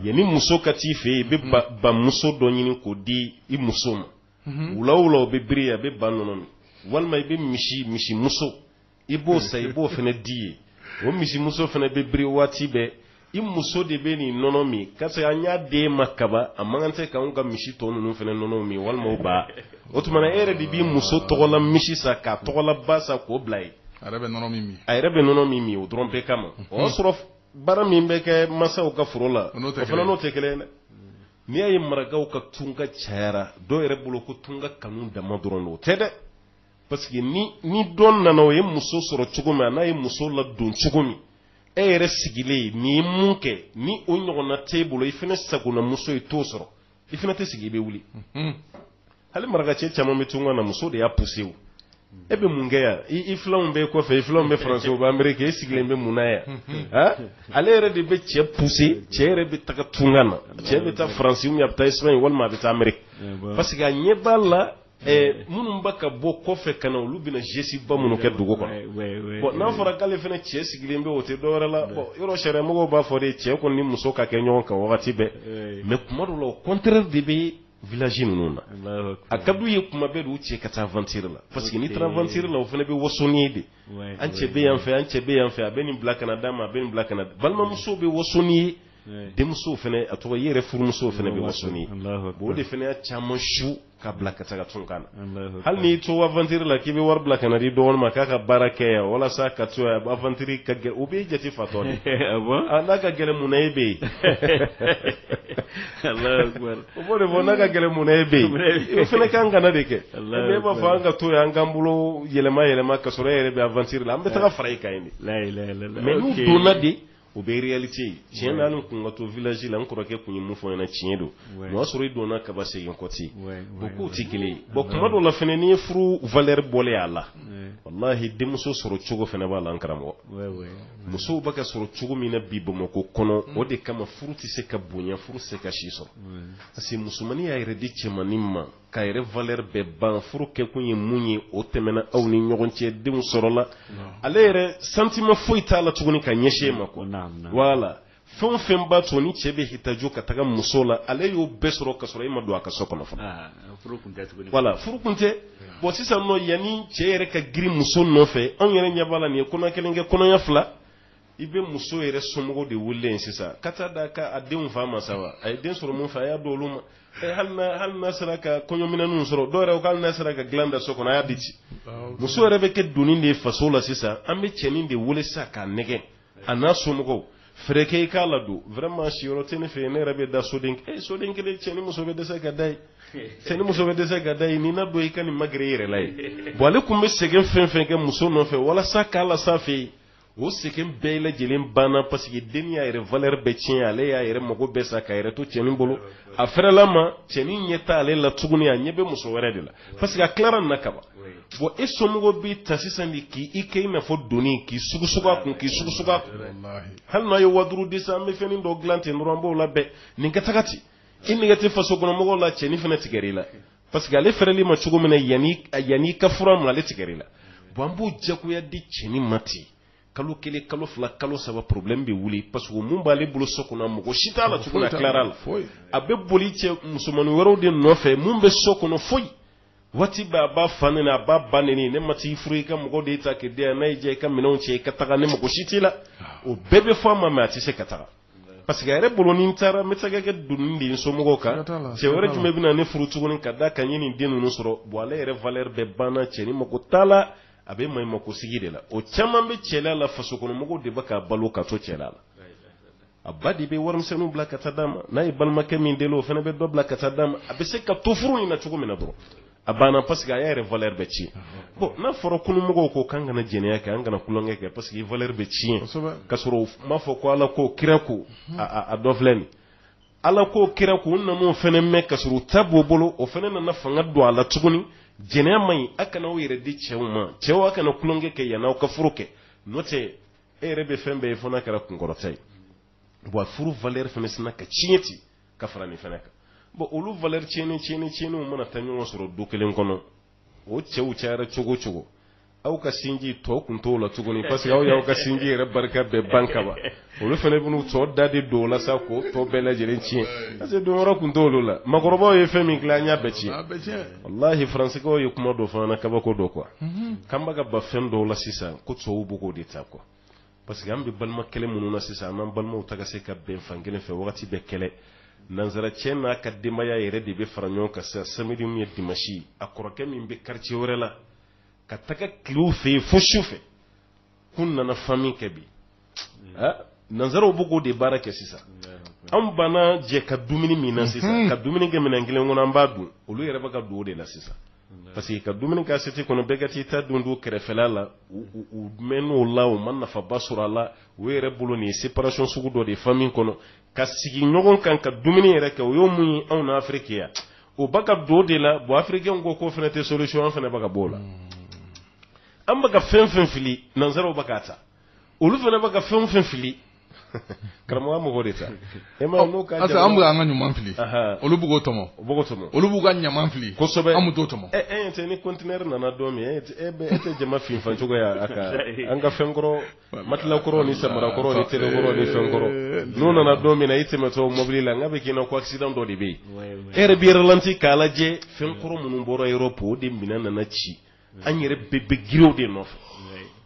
yanni muso ka t'i fɛ i bɛ bamuso dɔ ɲini k'o di i muso ma mhm. wula wula o bɛ biri a bɛ ba nɔnɔ min walima i bɛ misi misimuso i b'o san i b'o fana di yen o misimuso fana bɛ biri waati bɛɛ i muso de bɛ nin nɔnɔ min parce que an y'a d'e ma kaban a man kan tɛ k'anw ka misi tɔ ninnu fana nɔnɔ min walima o ba o tuma e yɛrɛ de b'i muso tɔgɔla misi san k'a tɔgɔla ba san k'o bila yen a yɛrɛ bɛ nɔnɔ min min a yɛrɛ bɛ nɔnɔ min min o dɔrɔn bɛɛ kama o y'a sɔrɔ baara min bɛ kɛ masaw ka foro la o fana n'o tɛ kelen dɛ n'i y'a ye marakaw ka tunka cayara dɔw yɛrɛ bolo ko tunka kanu dama dɔrɔn don o tɛ dɛ parce que ni ni dɔn nana o ye muso sɔrɔ cogo min a n'a ye muso ladon cogo min e yɛrɛ sigilen n'i ye mun kɛ ni o ɲɔgɔnna t'e bolo i fana sagonamuso ye t'o sɔrɔ i fana tɛ sigi i bɛ wuli mhm. hali marakacɛ caman bɛ tunga na muso de y'a poussé o e bɛ mun kɛ yan i filanw bɛ kɔfɛ i filanw bɛ faransi o bɛ ameriki e sigilen bɛ mun na yan mhm. ah? ale yɛrɛ de bɛ cɛ poussé cɛ yɛrɛ bɛ taga tunga na cɛ bɛ taa faransi ou bien a bɛ taa espagne walima a bɛ taa ameriki parce que a ɲɛ b'a la Eh, minnu bɛ ka bɔ kɔfɛ ka na olu bɛna geste ba minnu kɛ dugu kɔnɔ n'a fɔra k'ale fana cɛ sigilen bɛ o tɛ dɔwɛrɛ la yɔrɔ sariya yɛrɛ mɔgɔ b'a fɔ de cɛ kɔni ni muso ka kɛ ɲɔgɔn kan wagati bɛɛ eh. mais tuma dɔ la o kɔnte de bɛ village ninnu na a ka di u ye tuma bɛɛ u cɛ ka taa aventiri la parce que n'i taara aventiri la o fana bɛ waso n'i ye de an cɛ bɛ yan fɛ an cɛ bɛ yan fɛ a bɛ nin bila ka na d'a ma a bɛ nin bila ka na balimamuso bɛ waso n'i ye denmuso fana a tɔgɔ i yɛrɛ furumuso fana bɛ waso n'i ye o de fana y'a caman su ka bila ka taga tunga na hali n'i to aventiri la k'i bɛ wari bila ka na di dɔgɔnin ma k'a ka baara kɛ yan walasa ka to yan aventiri ka gɛlɛn o b'i jate fatɔ ah n'a ka gɛlɛn mun na e bɛ yen o b'o de fɔ n'a ka gɛlɛn mun na e bɛ yen o fana kan ka na de kɛ e b'a fɔ an ka to yan an k'an bolo yɛlɛma yɛlɛma ka sɔrɔ e yɛrɛ bɛ aventiri la an bɛ taga fara i kan yen de mais n'u donna de o bɛ réalité ye tiɲɛ na n tun ka to village la n kɔrɔkɛ tun ye mun fɔ n ɲɛna tiɲɛ don o y'a sɔrɔ i donna kaban segin kɔ tɛ yen o kow tɛ kelen ye bon tuma dɔw la fana n'i ye furu valeur bɔlen y'a la walahi denmuso sɔrɔ cogo fana b'a la n karamɔgɔ musow bɛ ka sɔrɔ cogo min na bi Bamakɔ kɔnɔ o de kama furu tɛ se ka bonya furu tɛ se ka si sɔrɔ parce que musomannin y'a yɛrɛ di cɛmannin ma k'a yɛrɛ valeur bɛɛ ban furu kɛkun ye min ye o tɛmɛna aw ni ɲɔgɔn cɛ denw sɔrɔla ale yɛrɛ sentiment foyi t'a la tuguni ka ɲɛsin e ma quoi voilà fɛn o fɛn b'a to ni cɛ bɛ hitajo ka taga muso la ale y'o bɛɛ sɔrɔ ka sɔrɔ e ma don a ka so kɔnɔ fɔlɔ ah, voilà furu kun tɛ bon sisan non yanni cɛ yɛrɛ ka girin muso nɔfɛ anw yɛrɛ ɲɛ b'a la n'i ye kɔnɔya kelen kɛ kɔnɔya fila i bɛ muso yɛrɛ somɔgɔw de wele sisan ka taa d'a ka a denw fa ma sa a ye den sɔrɔ min fɛ a y'a don olu ma hali n'a sera ka kɔɲɔminɛnw sɔrɔ dɔw yɛrɛ hali n'a sera ka dilan da so kɔnɔ a y'a di ci muso yɛrɛ bɛ kɛ doni de ye faso la sisan an bɛ cɛnin de wele sa k'a nɛgɛn a n'a somɔgɔw fɛɛrɛ kɛ i k'a ladon vraiment siyɔrɔ tɛ ne fɛ yen ne yɛrɛ bɛ da soden e soden kelen cɛ ni muso bɛ dɛsɛ ka da yen cɛ ni muso bɛ dɛsɛ ka da yen nin ladon i ka nin magɛrɛ i yɛrɛ la yen bon ale tun bɛ sɛgɛn fɛn o fɛn kɛ muso nɔfɛ walasa k'a las'a fɛ yen o sɛgɛn bɛɛ lajɛlen banna paseke dennin y'a yɛrɛ valɛri bɛɛ tiɲɛ ale y'a yɛrɛ mago bɛɛ sa k'a yɛrɛ to cɛnin bolo a fɛrɛl'a ma cɛnin ɲɛ t'ale la tuguni a ɲɛ bɛ muso wɛrɛ de la paseke a tilara na kaban bon e somɔgɔ b'i ta sisan de k'i kɛ i n'a fɔ doni k'i sugusugu a kun k'i sugusugu a kun hali n'a ye waa duuru di sa an bɛ fɛnnin dɔ dilan ten dɔrɔn an b'o labɛn nin ka taga ten i nege tɛ faso kɔnɔ mɔgɔw la cɛnin fana tigɛr'i la parce que ale fɛrɛl'i ma cogo min na yanni ka furu ma ale tigɛrɛ la bon an b'o jagoya di cɛnin ma ten kalo kelen kalo fila kalo saba problème bɛ wuli parce que mun b'ale bolo so kɔnɔ mako si t'a la tuguni a tilara la a bɛ boli cɛ musomanin wɛrɛw de nɔfɛ mun bɛ so kɔnɔ foyi waati bɛɛ a b'a fa nɛni a b'a ba nɛni ne ma t'i furu i ka mɔgɔ de ta k'i di yan n'a y'i diya i ka minɛnw cɛ i ka taga ne mako si t'i la ah. o bɛɛ bɛ fɔ a ma mais a tɛ se ka taga parce que a yɛrɛ bolo ni n taara n bɛ taga kɛ doni de ye n somɔgɔw kan cɛ wɛrɛ jumɛn bɛna ne furu tuguni ka da kan n ye nin den ninnu sɔrɔ bon ale yɛrɛ valeur bɛɛ banna cɛnin mako t'a la a bɛ maɲumako sigi de la o caman bɛ cɛla la fasokɔnɔmɔgɔw de bɛ k'a balo ka to cɛla la a ba de bɛ warimisɛnninw bila ka taa d'a ma n'a ye balimakɛ min deli o fana bɛ dɔ bila ka taa d'a ma a bɛ se ka to furu in na cogo min na dɔrɔn a banna parce que a y'a yɛrɛ valeur bɛɛ tiɲɛ bon n'a fɔra kununmɔgɔw ko k'an kana jɛnɛya kɛ an kana kulonkɛ kɛ parce que valeur bɛ tiɲɛ ka sɔrɔ u m'a fɔ ko ala ko kira ko a dɔ filɛ nin ala ko kira ko u nan'o fana mɛn ka sɔrɔ u ta b'u bolo o fana nana fanga don a la tuguni jɛnɛya man ɲi a kana aw yɛrɛ di cɛw ma cɛw a kana kulonkɛ kɛ yanni aw ka furu kɛ n'o tɛ e yɛrɛ bɛ fɛn bɛɛ ye fo n'a kɛra kunkɔrɔta ye wa furu valeur fana sinna ka tiɲɛ ten ka fara nin fana kan bon olu valeur tiɲɛnen tiɲɛnen tiɲɛnenw mana taa ɲɔgɔn sɔrɔ du kelen kɔnɔ o cɛw cayara cogo o cogo aw ka sinji tɔ kun t'o la tuguni parce que aw y'aw ka sinji yɛrɛ barika bɛɛ ban ka ban olu fana bɛn'u tɔ da de don o la sa k'o tɔ bɛɛ lajɛlen tiɲɛ parce que don yɔrɔ kun t'olu la makɔrɔbaw ye fɛn min dilan an y'a bɛɛ tiɲɛ walahi faransikɛw ye kuma dɔ fɔ an na kabako dɔ quoi k'an bɛ ka ban fɛn dɔw la sisan ko tubabuw bɛ k'o de ta quoi Parce que an bɛ balima kɛlɛ minnu na sisan an n'an balimaw tɛ ka se ka bɛn fan kelen fɛ wagati bɛɛ kɛlɛ nanzara cɛ n'a ka denbayaya yɛrɛ de bɛ fara ɲɔgɔn kan sa samedi ni dimanche a kɔrɔkɛ min bɛ quartier wɛrɛ la ka taga kɛ u fɛ yen fo su fɛ ko nana fa min kɛ bi nanzaraw bɛ k'o de baara kɛ sisan an banna jɛ ka dumuni min na sisan ka dumuni kɛ minɛn kelen kɔnɔ an b'a dɔn olu yɛrɛ bɛ ka don o de la sisan parce que ka dumuni kɛ assiette kɔnɔ bɛɛ ka t'i ta dun dun kɛrɛfɛla la u mɛnn'o la u ma nafaba sɔrɔ a la o yɛrɛ bolo nin ye séparation sugu dɔ de ye famille kɔnɔ ka sigi ɲɔgɔn kan ka dumuni yɛrɛ kɛ u y'o min ye anw na Afrique yan u bɛ ka don o de la bon africain ko k'o fana tɛ solution an fana bɛ ka b'o la an bɛ ka fɛn fɛn fili nanzaraw bɛ k'a ta olu fana bɛ ka fɛn fɛn fili karamɔgɔ an bɛ k'o de ta e ma n'o ka parce que an bɛ an ka ɲuman fili olu bɛ k'o tɔmɔ u b'o tɔmɔ olu b'u ka ɲaman fili kosɛbɛ an bɛ t'o tɔmɔ e t'a ye ni conteneur nana don min e tɛ jama finfan cogo ye a kan ka fɛn kɔrɔ matila kɔrɔ ni samara kɔrɔ ni télé kɔrɔ ni fɛn kɔrɔ n'o nana don min na i tɛmɛtɔ mobili la n ka bɛ k'i ɲɛ na ko accident dɔ de bɛ yen e yɛrɛ b'i yɛrɛ ralenti k'a lajɛ fɛn kɔrɔ minnu bɔra Europe o de minɛn nana ci an yɛrɛ bɛɛ bɛ girin o de nɔfɛ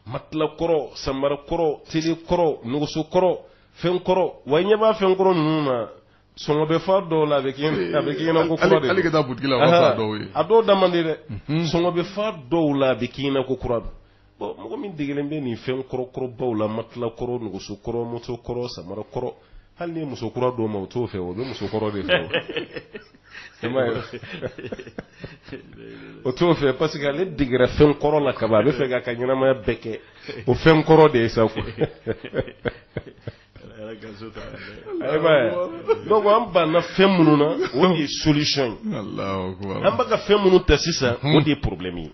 matila kɔrɔ samara kɔrɔ tele kɔrɔ nɛgɛso kɔrɔ fɛn kɔrɔ wa ɲɛ b'a fɛn kɔrɔ ninnu na sɔngɔ bɛ fa dɔw la a bɛ a bɛ kɛ i ɲɛna ko kura de a dɔw da man di dɛ sɔngɔ bɛ fa dɔw la a bɛ kɛ i ɲɛna ko kura don bon mɔgɔ min dege bɛ nin fɛn kɔrɔkɔrɔbaw la matila kɔrɔ nɛgɛso kɔrɔ moto kɔrɔ samara kɔrɔ hali ni musokura d'o ma o t'o fɛ o bɛ musokɔrɔ de fɛ o t'o fɛ parce que ale degera fɛn kɔrɔ la ka a b'a fɛ k'a ka ɲɛnamaya bɛɛ kɛ o fɛn kɔrɔ de ye sa donc an banna fɛn minnu na o de ye solisɔn ye an bɛ ka fɛn minnu ta sisan o de ye porobilɛmu ye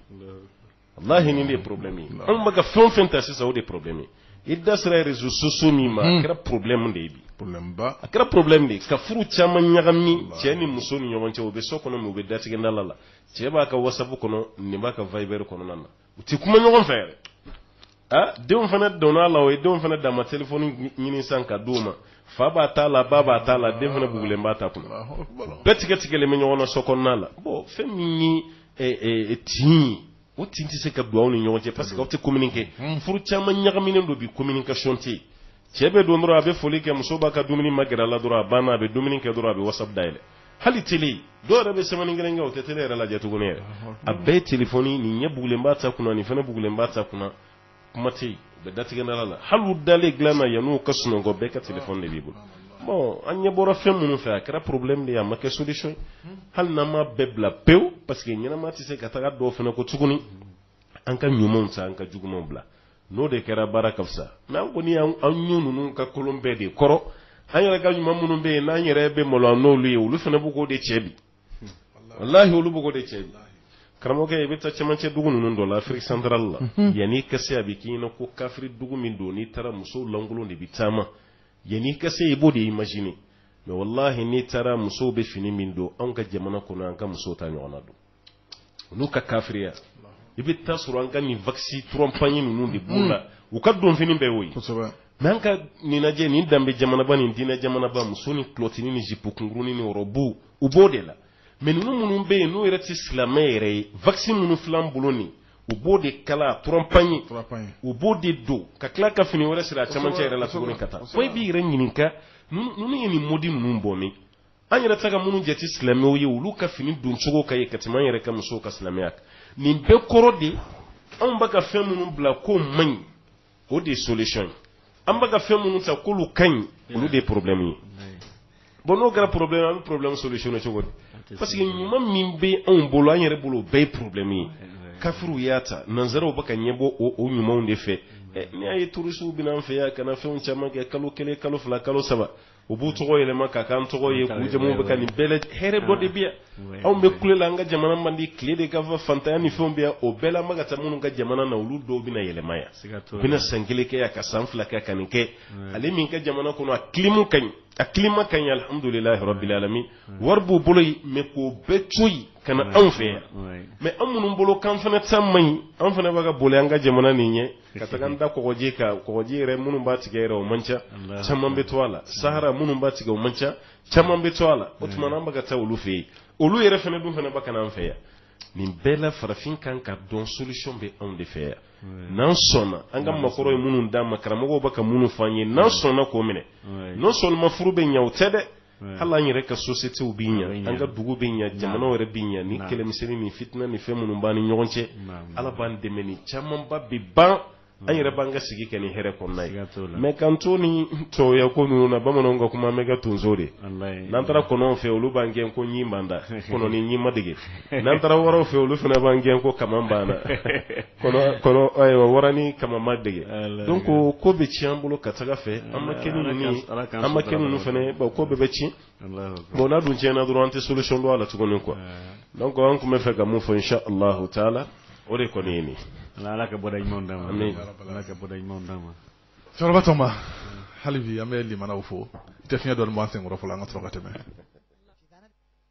walahi nin de porobilɛmi ye anw bɛ ka fɛn o fɛn ta sisan o de porobilɛmi i da sera rezo sosiyo min ma a kɛra porobilɛmu de ye bi a kɛra porobilɛmu de ye ka furu caman ɲagami cɛ ni muso ni ɲɔgɔn cɛ u bɛ so kɔnɔ min u bɛ datigɛdala la cɛ b'a ka wasabu kɔnɔ nin b'a ka vayibɛri kɔnɔna na u tɛ kuma ɲɔgɔn fɛ yɛrɛ aa denw fana donna a la o ye denw fana dama telefɔni ɲini san k'a di u ma fa b'a ta la ba b'a ta la den fana bugulen b'a ta kunna bɛɛ tigɛtigɛlen bɛ ɲɔgɔn na so kɔnɔna la bon fɛn min ye eh, eh, tin o tin tɛ se ka don aw ni ɲɔgɔn cɛ parce que aw tɛ communiquer furu caman ɲagaminen don bi communication tɛ yen cɛ bɛ don dɔrɔn a bɛ foli kɛ muso b'a ka dumuni magɛrɛ a la dɔrɔn a banna a bɛ dumuni kɛ dɔrɔn a bɛ wasabu dayɛlɛ hali tele dɔw yɛrɛ bɛ semɛni kelen kɛ o tɛ tele yɛrɛ lajɛ tuguni yɛrɛ a bɛɛ telefɔni nin ɲɛ bugulen b'a ta kunna nin fana bugulen b'a ta kunna kuma tɛ yen bɛ datigɛ dala la hali dalen dilan na yann'u ka sunɔgɔ bɛɛ ka tele de b'i bolo bon an ɲɛ bɔra fɛn minnu fɛ a kɛra porobilɛmu de ye a ma kɛ solisɔn hali n'an ma bɛɛ bila pewu paseke ɲɛnamaya tɛ se ka taga dɔw fana ko tuguni an ka ɲumanw ta an ka jugumanw bila n'o de kɛra baara ka fisa mɛ an kɔni an ɲɔ ninnu ka kolon bɛɛ de kɔrɔ an yɛrɛ ka ɲuman minnu bɛ yen n'an yɛrɛ bɛ malo an n'olu ye olu fana bɛ k'o de cɛ bi walahi olu b'o de cɛ bi karamɔgɔkɛ i bɛ taa cɛmancɛ dugu ninnu dɔ la afiriki santarali la mhm. yann'i ka se a bɛ k'i ɲɛna ko kafiri dugu min don n'i taara musow lankolon de bɛ caman yann'i ka se i b'o de imagine mɛ walahi n'i taara musow bɛ fini min don anw ka jamana kɔnɔ an ka musow t'a ɲɔgɔnna don olu ka kafiriya i bɛ taa sɔrɔ an ka nin wakisi trois pagnes ninnu de b'u la u ka donfɛn bɛɛ o ye mɛ an ka ninjɛ ni danbe jamanaba ni diinɛ jamanaba muso ni kilɔtinin ni zipunin ni ɔrɔbu u b'o de la mɛ ninnu minnu bɛ yen n'o yɛrɛ tɛ silamɛ yɛrɛ ye wakisi minnu fila bolo nin u b'o de kala trois pagnes u b'o de don ka tila ka fini wɛrɛ siri a cɛmancɛ yɛrɛ la cogo ka taa fo i b'i yɛrɛ ɲininka ninnu ye nin mɔdi ninnu bɔ min an yɛrɛ tɛ ka minnu jate silamɛw ye olu ka fini don cogo ka ɲi ka tɛmɛ an yɛrɛ ka musow ka silamɛya kan nin bɛɛ kɔrɔ de anw bɛ ka fɛn minnu bila k'o man ɲi o de ye solution ye an bɛ ka fɛn minnu ta k'olu ka ɲi olu de ye problème ye bon n'o kɛra problème an bɛ problème solutionner cogo di parce que ɲuman min bɛ anw bolo an yɛrɛ bolo o bɛɛ ye problème ye kafiriw y'a ta nanzaraw bɛ ka ɲɛbɔ o o ɲumanw de fɛ n'i y'a ye turisiw bɛ na an fɛ yan ka na fɛnw caman kɛ kalo kelen kalo fila kalo saba u b'u tɔgɔ yɛlɛma k'a k'an tɔgɔ ye k'u jamu bɛ ka nin bɛɛ hɛrɛ bɔ de bi anw bɛ kulela an ka jamana man di tile de ka bon faantanya ni fɛnw bɛ o bɛɛ la an bɛ ka taa minnu ka jamana na olu dɔw bɛna yɛlɛma yan u bɛna san kelen kɛ yan ka san fila kɛ ka nin kɛ ale min ka jamana kɔnɔ a kilima ka ɲi a kilima ka ɲi alihamudulilayi rabilalamin wari b'u bolo yen mɛ k'o bɛɛ to yen ka na anw fɛ yan mɛ an minnu bolo k'an fana san man ɲi an fana bɛ ka boli an ka jamana nin ɲɛ ka taga da kɔgɔji kan kɔgɔji yɛrɛ minnu b'a tigɛ o man ca caman bɛ to a la sahara minnu b'a tigɛ o man ca caman bɛ to a la o tuma an bɛ ka taa olu fɛ yen olu yɛrɛ fana dun fana bɛ ka na an fɛ yan nin bɛɛ la farafin kan k'a dɔn solution bɛ anw de fɛ yan n'an sɔnna an ka makɔrɔw ye minnu d'an ma karamɔgɔw bɛ ka minnu fɔ an ye n'an sɔnna k'o minɛ n'o sɔnna furu bɛ ɲɛ o tɛ dɛ hali an yɛrɛ ka sosite bɛ ɲɛ an ka dugu bɛ ɲɛ jamana yɛrɛ bɛ ɲɛ ni kɛlɛmisɛnnin fitinɛ ni fɛn minnu b'an ni ɲɔgɔn cɛ ala b'an dɛmɛ nin camanba bɛ ban an yɛrɛ b'an ka sigi kɛ ni hɛrɛ kɔnɔna ye mɛ k'an to ni tɔya ko ninnu na bamananw ka kuma bɛ kɛ tonso de n'an taara kɔnɔw fɛ olu b'an gɛn ko ɲin b'an da kɔnɔ ni ɲin ma dege n'an taara waraw fɛ olu fana b'an gɛn ko kaman b'an na wara ni kaman ma dege donc ko ko bɛ ci an bolo ka taga fɛ an ma kɛ an ma kɛ ninnu fana ko bɛɛ bɛ ci bon n'a dun tiɲɛna dɔrɔn an tɛ solution dɔn a la tuguni quoi donc an tun b'a fɛ ka min fɔ insha Allah taala o de kɔni ye nin ala ka bɔda ɲumanw d'an ma ala ka bɔda ɲumanw d'an ma cɛkɔrɔba tɔma hali bi an bɛ lamɛnnaw fo tɛ fiɲɛ dɔɔni b'an senkɔrɔ fɔlɔ an ka sɔrɔ ka tɛmɛ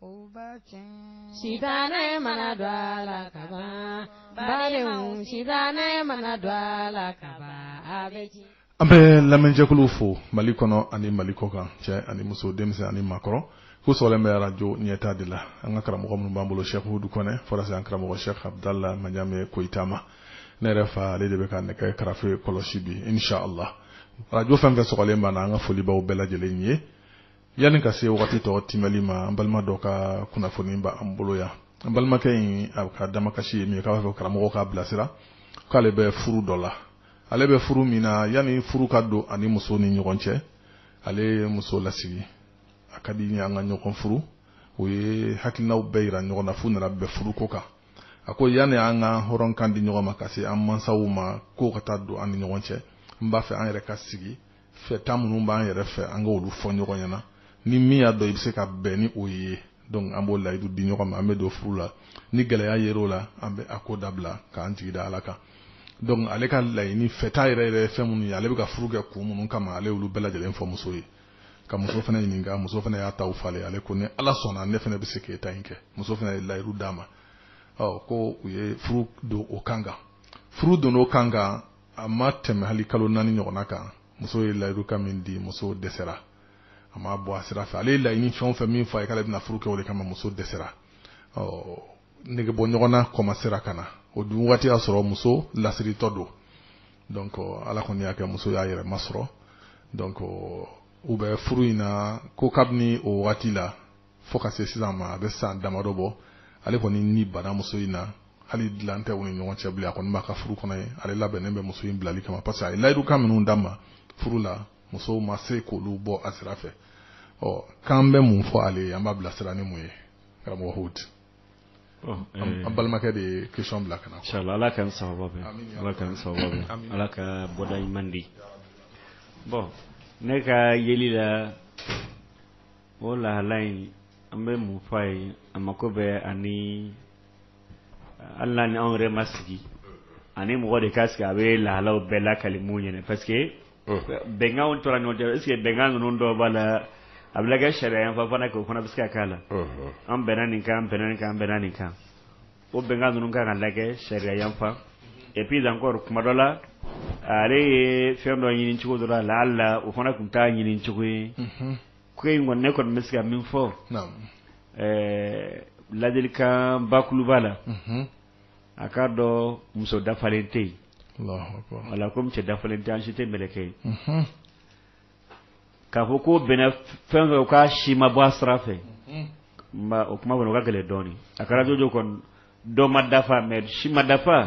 O ba cɛ sitanɛ mana don ala k'a bali sitanɛ mana don ala k'a gɛn an bɛ lamɛnjɛkulu fo mali kɔnɔ ani mali kɔkan cɛ ani muso denmisɛnnin ani makɔrɔ ko sɔrɔ bɛ arajo ɲɛta de la an ka karamɔgɔ minnu b'an bolo sɛkudu kɔnɛ walasa an karamɔgɔ sɛ kabudala ma ɲamɛ kotama ma ne yɛrɛ fa ale de bɛ ka nɛgɛ karafe kɔlɔsi bi nc la arajo fan fɛ sɔrɔlen banna an ka foli b'aw bɛɛ lajɛlen ye yanni ka se wagati tɔ timɛli ma an balima dɔ ka kunnafoni b'an bolo yan an balimakɛ in a ka damakasi ye min ye k'a b'a fɛ karamɔgɔ k'a bilasira k'ale bɛ furu dɔ la ale bɛ furu min na yanni furu ka don ani muso ni ɲɔgɔn cɛ ale ye muso lasigi a ka di n ye an ka ɲɔgɔn furu u ye hakilinaw bɛɛ yira ɲɔgɔn na f'u nana bɛn furu ko kan a ko yanni an ka hɔrɔnkan di ɲɔgɔn ma ka se an mansaw ma ko ka taa don an ni ɲɔgɔn cɛ n b'a fɛ an yɛrɛ ka sigi fɛta minnu b'an yɛrɛ fɛ an ka olu fɔ ɲɔgɔn ɲɛna ni min y'a dɔn i bɛ se ka bɛn ni o ye donc an b'o layidu di ɲɔgɔn ma an bɛ don furu la ni gɛlɛya yer'o la an bɛ a ko dabila k'an jigi da ala kan donc ale ka laɲini fɛta yɛrɛ yɛrɛ ye fɛn minnu ye ale bɛ ka furu kɛ kun minnu kama ale y'olu bɛɛ lajɛlen fɔ muso ye ka muso fana ɲininka muso fana y'a taw falen ale ko ni ala sɔnna ne fana bɛ se k'e ta in kɛ muso fana ye layidu d'a ma ɔ ko u ye furu don o kan kan furu don o kan kan a ma tɛmɛ hali kalo naani ɲɔgɔnna kan muso ye layidukan min di muso dɛsɛra a ma bɔ a sira fɛ ale ye laɲini fɛn o fɛn min fɔ a ye k'ale bɛna furu kɛ o de kama muso dɛsɛra ɔ nege bɔ ɲɔgɔn na kɔmasera ka na o dun waati y'a sɔrɔ muso lasiritɔ don donc ala kɔni y'a kɛ muso y'a yɛrɛ masɔrɔ donc u bɛ furu in na ko kabini o waati la fo ka se sisan ma a bɛ san damadɔ bɔ ale kɔni ni banna muso in na hali dilan tɛ u ni ɲɔgɔn cɛ bilen a kɔni b'a ka furu kɔnɔ ye ale labɛnnen bɛ muso in bilali kama parce que a ye layidukan minnu d'a ma furu la musow ma se k'olu bɔ a sira fɛ ɔ k'an bɛ mun fɔ ale ye an b'a bilasira ni mun ye karamɔgɔ hood eh, an balimakɛ de ye question bila ka na inshallah ala k'an sababa bɛn ala k'an sababa bɛn ala ka bɔda ɲuman di bon ne ka yeli la o lahala in an bɛ mun fɔ a ye a mako bɛ ani hali ni anw yɛrɛ ma sigi a ni mɔgɔ de ka sigi a bɛ lahalaw bɛɛ lakali minnu ɲini parce que bɛnkan tora ɲɔgɔn cɛ est ce que bɛnkan ninnu dɔ b'a la a bɛ kɛ sariya yan fana kɛ o fana bɛ se ka k'a la an bɛnna nin kan bɛnna nin kan bɛnna nin kan o bɛnkan ninnu kan ka lajɛ sariya yan fan et puis encore kuma dɔ la ale ye fɛn dɔ ɲini cogo dɔ la la o fana tun t'a ɲini cogo ye ko in kɔni ne kɔni bɛ se ka min fɔ ladilikan bakuruba la a k'a dɔn muso dafalen tɛ yen wala ko cɛ dafalen tɛ an si tɛ mɛlɛkɛ ye k'a fɔ ko bɛnna fɛn o fɛn kan a si ma bɔ a sira fɛ o kuma fana ka gɛlɛn dɔɔnin a kɛra jɔj dɔ ma dafa mais si ma dafa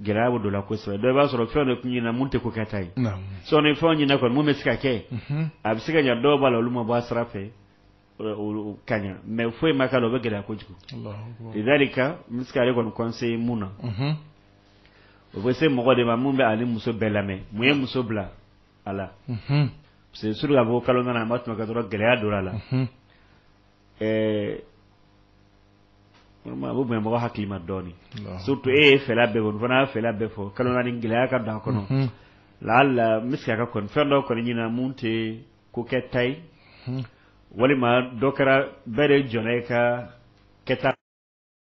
gɛlɛya bɛ don la kosɛbɛ dɔ i b'a sɔrɔ fɛn dɔ tun ɲinina mun tɛ ko kɛta ye sɔɔni fɛn ɲinina kɔni mun bɛ se ka kɛ a bɛ se ka ɲɛ dɔw b'a la olu ma bɔ a sira fɛ ka ɲɛ mais foyi ma k'a la o bɛ gɛlɛya kojugu ladilikan n bɛ se ka ale kɔni kɔnse mun na o bɛ se mɔgɔ de ma mun bɛ a ni muso bɛɛ lamɛn mun ye muso bila a la parce que surtout ka bɔ kalo naani a ma tɛmɛ o kan dɔrɔn gɛlɛya don a la ɛɛ o bɛ mɔgɔ hakili ma dɔɔnin surtout e ye fɛla bɛɛ fɔ a fana y'a fɛla bɛɛ fɔ kalo naani gɛlɛya ka don a kɔnɔ mhm. laala n bɛ se ka kɛ kɔni fɛn dɔ kɔni ɲinina mun tɛ ko kɛta ye mhm. walima dɔ kɛra bɛɛ de jɔnna i ka kɛta